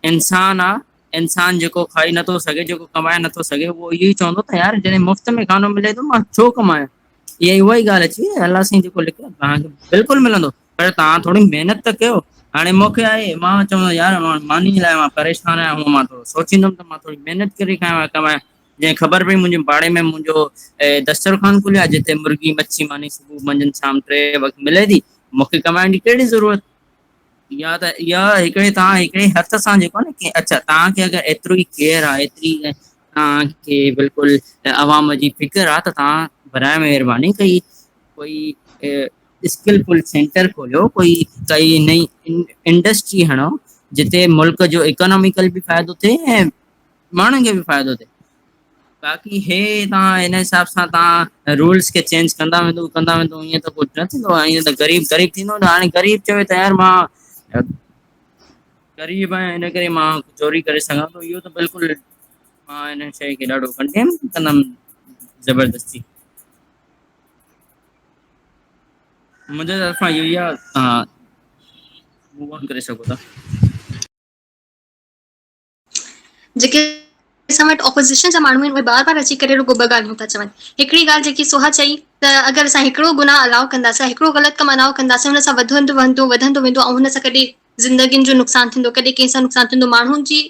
انسان آ انسان جيڪو کائي نٿو سگهي جيڪو ڪمائي نٿو سگهي اهو اهو ئي چوندو ته يار جڏهن مفت ۾ کانو ملي ٿو مان ڇو ڪمايان اها ئي اها ئي ڳالهه اچي ويئي الله سائين جيڪو لکيو تهان کي بلڪل ملندو پر تهان ٿوري محنت ته ڪيو هاڻي موکي آهي مان چوندو يار ماني لاء مان پريشان آهيان هونئن مان ٿورو سوچيندم ته مان ٿوري محنت ڪري کائي ڪماء جنهن خبر پئي منهنجي پاڙي ۾ منهنجو دسترخوان کليو آهي جتي مرغي مڇي ماني صبح منجهند شام ٽي وقت ملي ٿي مونکي ڪمائڻ جي ڪهڙي ضرورت يا ته اها هڪڙي تهان هڪڙي هٿ سان جيڪو نه اچا تهان کي اگر ايترو ئي ڪيئر آهي ايتري توهان کي بلڪل عوام جي فڪر آ ته توهان براهه مهرباني ڪئي ڪوئي اسڪل فل سينٽر کوليو ڪوئي ڪئي نئي انڊسٽري هڻو جتي ملڪ جو اڪاناميڪل به فائدو ٿئي ۽ ماڻهن کي به فائدو ٿئي باقي هي توهان هن حساب سان توهان رولس کي چينج ڪندا ويندو ڪندا ويندو ائين ته ڪجهه نه ٿيندو ائين ته غريب غريب ٿيندو هاڻي غريب چوي ته يار مان غريب آهيان هن ڪري مان چوري ڪري سگهان ٿو اهو ته بلڪل مان هن شيء کي ڏاڍو ڪنڊيم ڪندم زبردستي منهنجي طرفان اهو ئي آ توهان موو آن ڪري سگهو ٿا جيڪي اسان وٽ اپوزيشن جا ماڻهو آهن اهي بار بار اچي ڪري رڳو ٻه ڳالهيون ٿا چون هڪڙي ڳالهه جيڪي سوها چئي ته اگر اسان هڪڙو گناهه الاء ڪنداسين هڪڙو غلط ڪم الاء ڪنداسين ان سان وڌندو وهندو وڌندو ويندو ۽ هن سان ڪڏهن زندگين جو نقصان ٿيندو، ڪڏهن ڪنهن سان نقصان ٿيندو، ماڻهن جي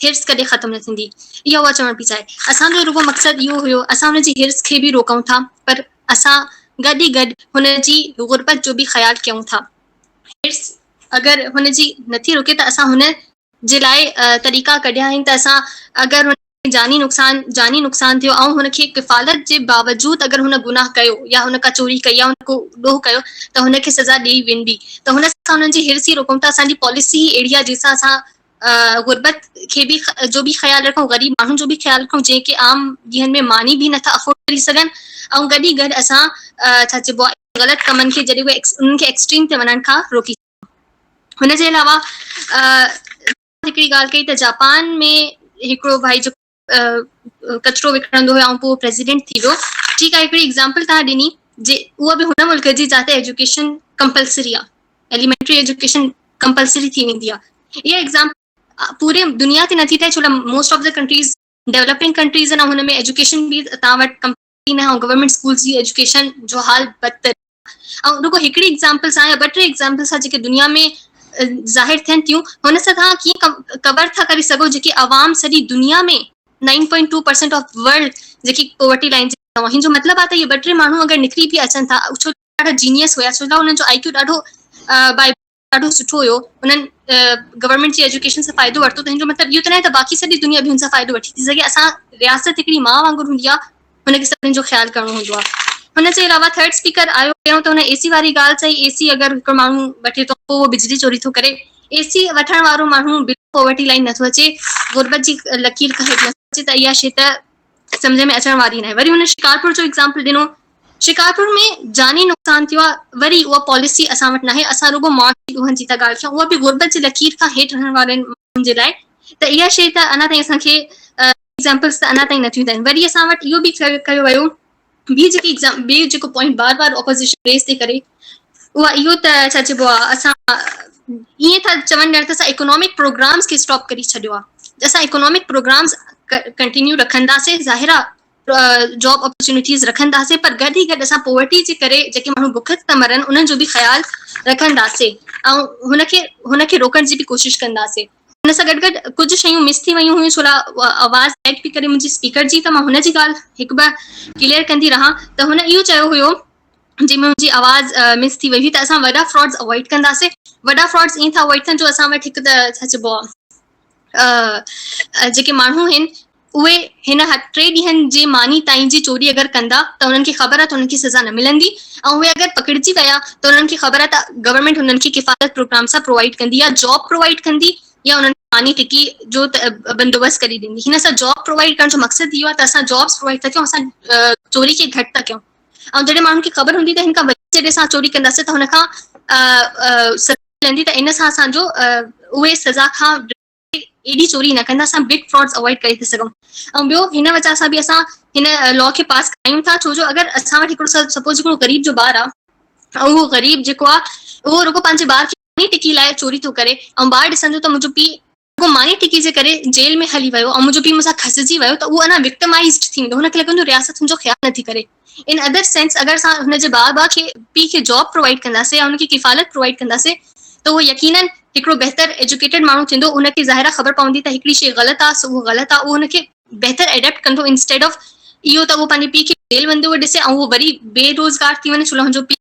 حرص ڪڏهن ختم نه ٿيندي، اها اها چوڻ پئي چاهي. اسان جو رڳو مقصد اهو هيو، اسان هن جي حرص کي به روڪون ٿا، پر اسان گڏ ئي گڏ هن جي غربت جو به خيال ڪيون ٿا. حرص اگر هن جي نٿي روڪي ته اسان هن جي لاء طريقا ڪڍيا آهن ته اسان اگر هن. ۾ جاني نقصان جاني نقصان ٿيو ۽ هن کي ڪفالت جي باوجود اگر هن گناهه ڪيو يا هن ڪا چوري ڪئي يا هن ڪو ڏوهه ڪيو ته هن کي سزا ڏئي ويندي ته هن سان انهن جي حرص ئي روڪون ته اسان جي پاليسي ئي اهڙي آهي جنهن سان اسان غربت کي به جو به خيال رکون غريب ماڻهن جو به خيال رکون جنهن کي عام ڏينهن ۾ ماني به نٿا افورڊ ڪري سگهن ۽ گڏ ئي گڏ اسان ڇا چئبو آهي غلط ڪمن کي جڏهن انهن کي ايڪسٽريم تي وڃڻ کان روڪي سگهون هن جي علاوه هڪڙي ڳالهه ڪئي ته جاپان ۾ هڪڙو ڀائي جو ڪچرو وڪڻندو هو ۽ پوء پريزيڊنٽ ٿي ويو ٺيڪ آهي هڪڙي ايگزامپل توهان ڏني جي اها به هن ملڪ جي جتي ايجوڪيشن ڪمپلسري آهي ايليمينٽري ايجوڪيشن ڪمپلسري ٿي ويندي آهي اها ايگزامپل پوري دنيا تي نٿي ٿئي ڇو لاء most of the countries developing countries آهن ۽ هن ۾ ايجوڪيشن به تان وٽ ڪين آهي ۽ گورنمينٽ اسڪولز جي ايجوڪيشن جو حال بدتر آهي ۽ رڳو هڪڙي ايگزامپل سان يا ٻه ٽي ايگزامپل سان جيڪي دنيا ۾ ظاهر ٿين ٿيون هن سان توهان ڪيئن ڪور ٿا ڪري سگهو جيڪي عوام سڄي دنيا ۾ nine point two percent of world جيڪي پوورٽي لائن جي ٿيو هن جو مطلب آهي ته اهي ٻه ٽي ماڻهو اگر نڪري به اچن ٿا ڇو ته ڏاڍا جينيس هيا ڇو ته انهن جو آئي ڪيو ڏاڍو بائبل ڏاڍو سٺو هيو انهن گورنمينٽ جي ايجوڪيشن سان فائدو ورتو تنهن جو مطلب اهو ته ناهي ته باقي سڄي دنيا به هن سان فائدو وٺي ٿي سگهي اسان رياست هڪڙي ماء وانگر هوندي آهي هن کي سڀني جو خيال ڪرڻو هوندو آهي هن جي علاوه ٿرڊ اسپيڪر آيو پهريون ته هن اي سي واري ڳالهه چئي اي سي اگر هڪڙو ماڻهو وٺي ٿو پوء اهو بجلي چوري ٿو ڪري اي سي وٺڻ وارو ماڻهو بلو پاورٽي لائن نٿو اچي غربت جي لڪير کان هيٺ نٿو اچي ته اها شي ته سمجهه ۾ اچڻ واري ناهي وري هن شڪارپور جو ايگزامپل ڏنو شڪارپور ۾ جاني نقصان ٿيو آهي وري اها پاليسي اسان وٽ ناهي اسان رڳو معاشي ڏوهن جي ٿا ڳالهه ڪيون اها به غربت جي لڪير کان هيٺ رهڻ وارن ماڻهن جي لاء ته اها شيء ته اڃا تائين اسان کي ايگزامپلس ته اڃا تائين نٿيون ڏين وري اسان وٽ اهو به ڪيو ويو ٻي جيڪي ايگزام ٻي جيڪو پوائنٽ بار بار اپوزيشن ريز ٿي ڪري اها اهو ته ڇا چئبو آ اسان ائين ٿا چون ڄڻ ته اسان اڪنامڪ پروگرامز کي اسٽاپ ڪري ڇڏيو آ اسان اڪنامڪ پروگرامز ڪنٽينيو رکنداسين ظاهر آ جاب اپرچونيٽيز رکنداسين پر گڏ ئي گڏ اسان پوورٽي جي ڪري جيڪي ماڻهو بک ٿا مرن انهن جو به خيال رکنداسين ۽ هن کي هن کي روڪڻ جي به ڪوشش ڪنداسين ان سان گڏ گڏ ڪجهه شيون مس ٿي ويون هيون ڇولا آواز ايڊ پي ڪري منهنجي اسپيڪر جي ته مان هن جي ڳالهه هڪ ٻه ڪليئر ڪندي رهان ته هن اهو چيو هيو جي منهنجي آواز مس ٿي وئي هئي ته اسان وڏا فراڊز اوائڊ ڪنداسي وڏا فراڊز ائين ٿا اوائڊ ڪن جو اسان وٽ هڪ ته ڇا چئبو آهي جيڪي ماڻهو آهن اهي هن حد ٽي ڏينهن جي ماني تائين جي چوري اگر ڪندا ته انهن کي خبر آ ته انهن کي سزا نه ملندي ۽ اهي اگر پڪڙجي ويا ته انهن کي خبر آ ته گورنمينٽ انهن کي ڪفالت پروگرام سان پرووائيڊ ڪندي يا جاب پرووائيڊ ڪندي يا انهن کي ماني ٽڪي جو بندوبست ڪري ڏيندي هن سان جاب پرووائيڊ ڪرڻ جو مقصد اهو آ ته اسان جابس پرووائيڊ ٿا ڪيون اسان چوري کي گهٽ ٿا ڪيون ۽ جڏهن ماڻهن کي خبر هوندي ته هن کان وڌيڪ جڏهن اسان چوري ڪنداسين ته هن کان سزا ملندي ته ان سان اسان جو اهي سزا کان ايڏي چوري نه ڪندا اسان بگ فراڊز اوائڊ ڪري ٿي سگهون ۽ ٻيو هن وجه سان به اسان هن لا کي پاس ڪرايون ٿا ڇو جو اگر اسان وٽ هڪڙو سپوز هڪڙو غريب جو ٻار آ اهو غريب جيڪو آ اهو رڳو پنهنجي ٻار کي ماني ٽڪي لاء چوري ٿو ڪري ۽ ٻار ڏسندو ته منهنجو پيء رڳو ماني ٽڪي جي ڪري جيل ۾ هلي ويو ۽ منهنجو پيء مون سان کسجي ويو ته اهو اڃا وڪٽمائيزڊ ٿي ويندو هن کي لڳندو رياست هن جو خيال نه ٿي ڪري ان ادر سينس اگر اسان هن جي بار بار کي پي کي جاب پرووائيڊ ڪنداسين يا ان کي ڪفالت پرووائيڊ ڪنداسين ته اهو يقينن هڪڙو بهتر ايجوڪيٽيڊ ماڻهو ٿيندو ان کي ظاهر آ خبر پوندي ته هڪڙي شي غلط آ سو اهو غلط آ اهو ان کي بهتر ايڊيپٽ ڪندو انسٽيڊ آف اهو ته اهو پنهنجي پي کي جيل ويندي هئي ڏسي ۽ اهو وري بي روزگار ٿي وڃي ڇو لاء هن جو پي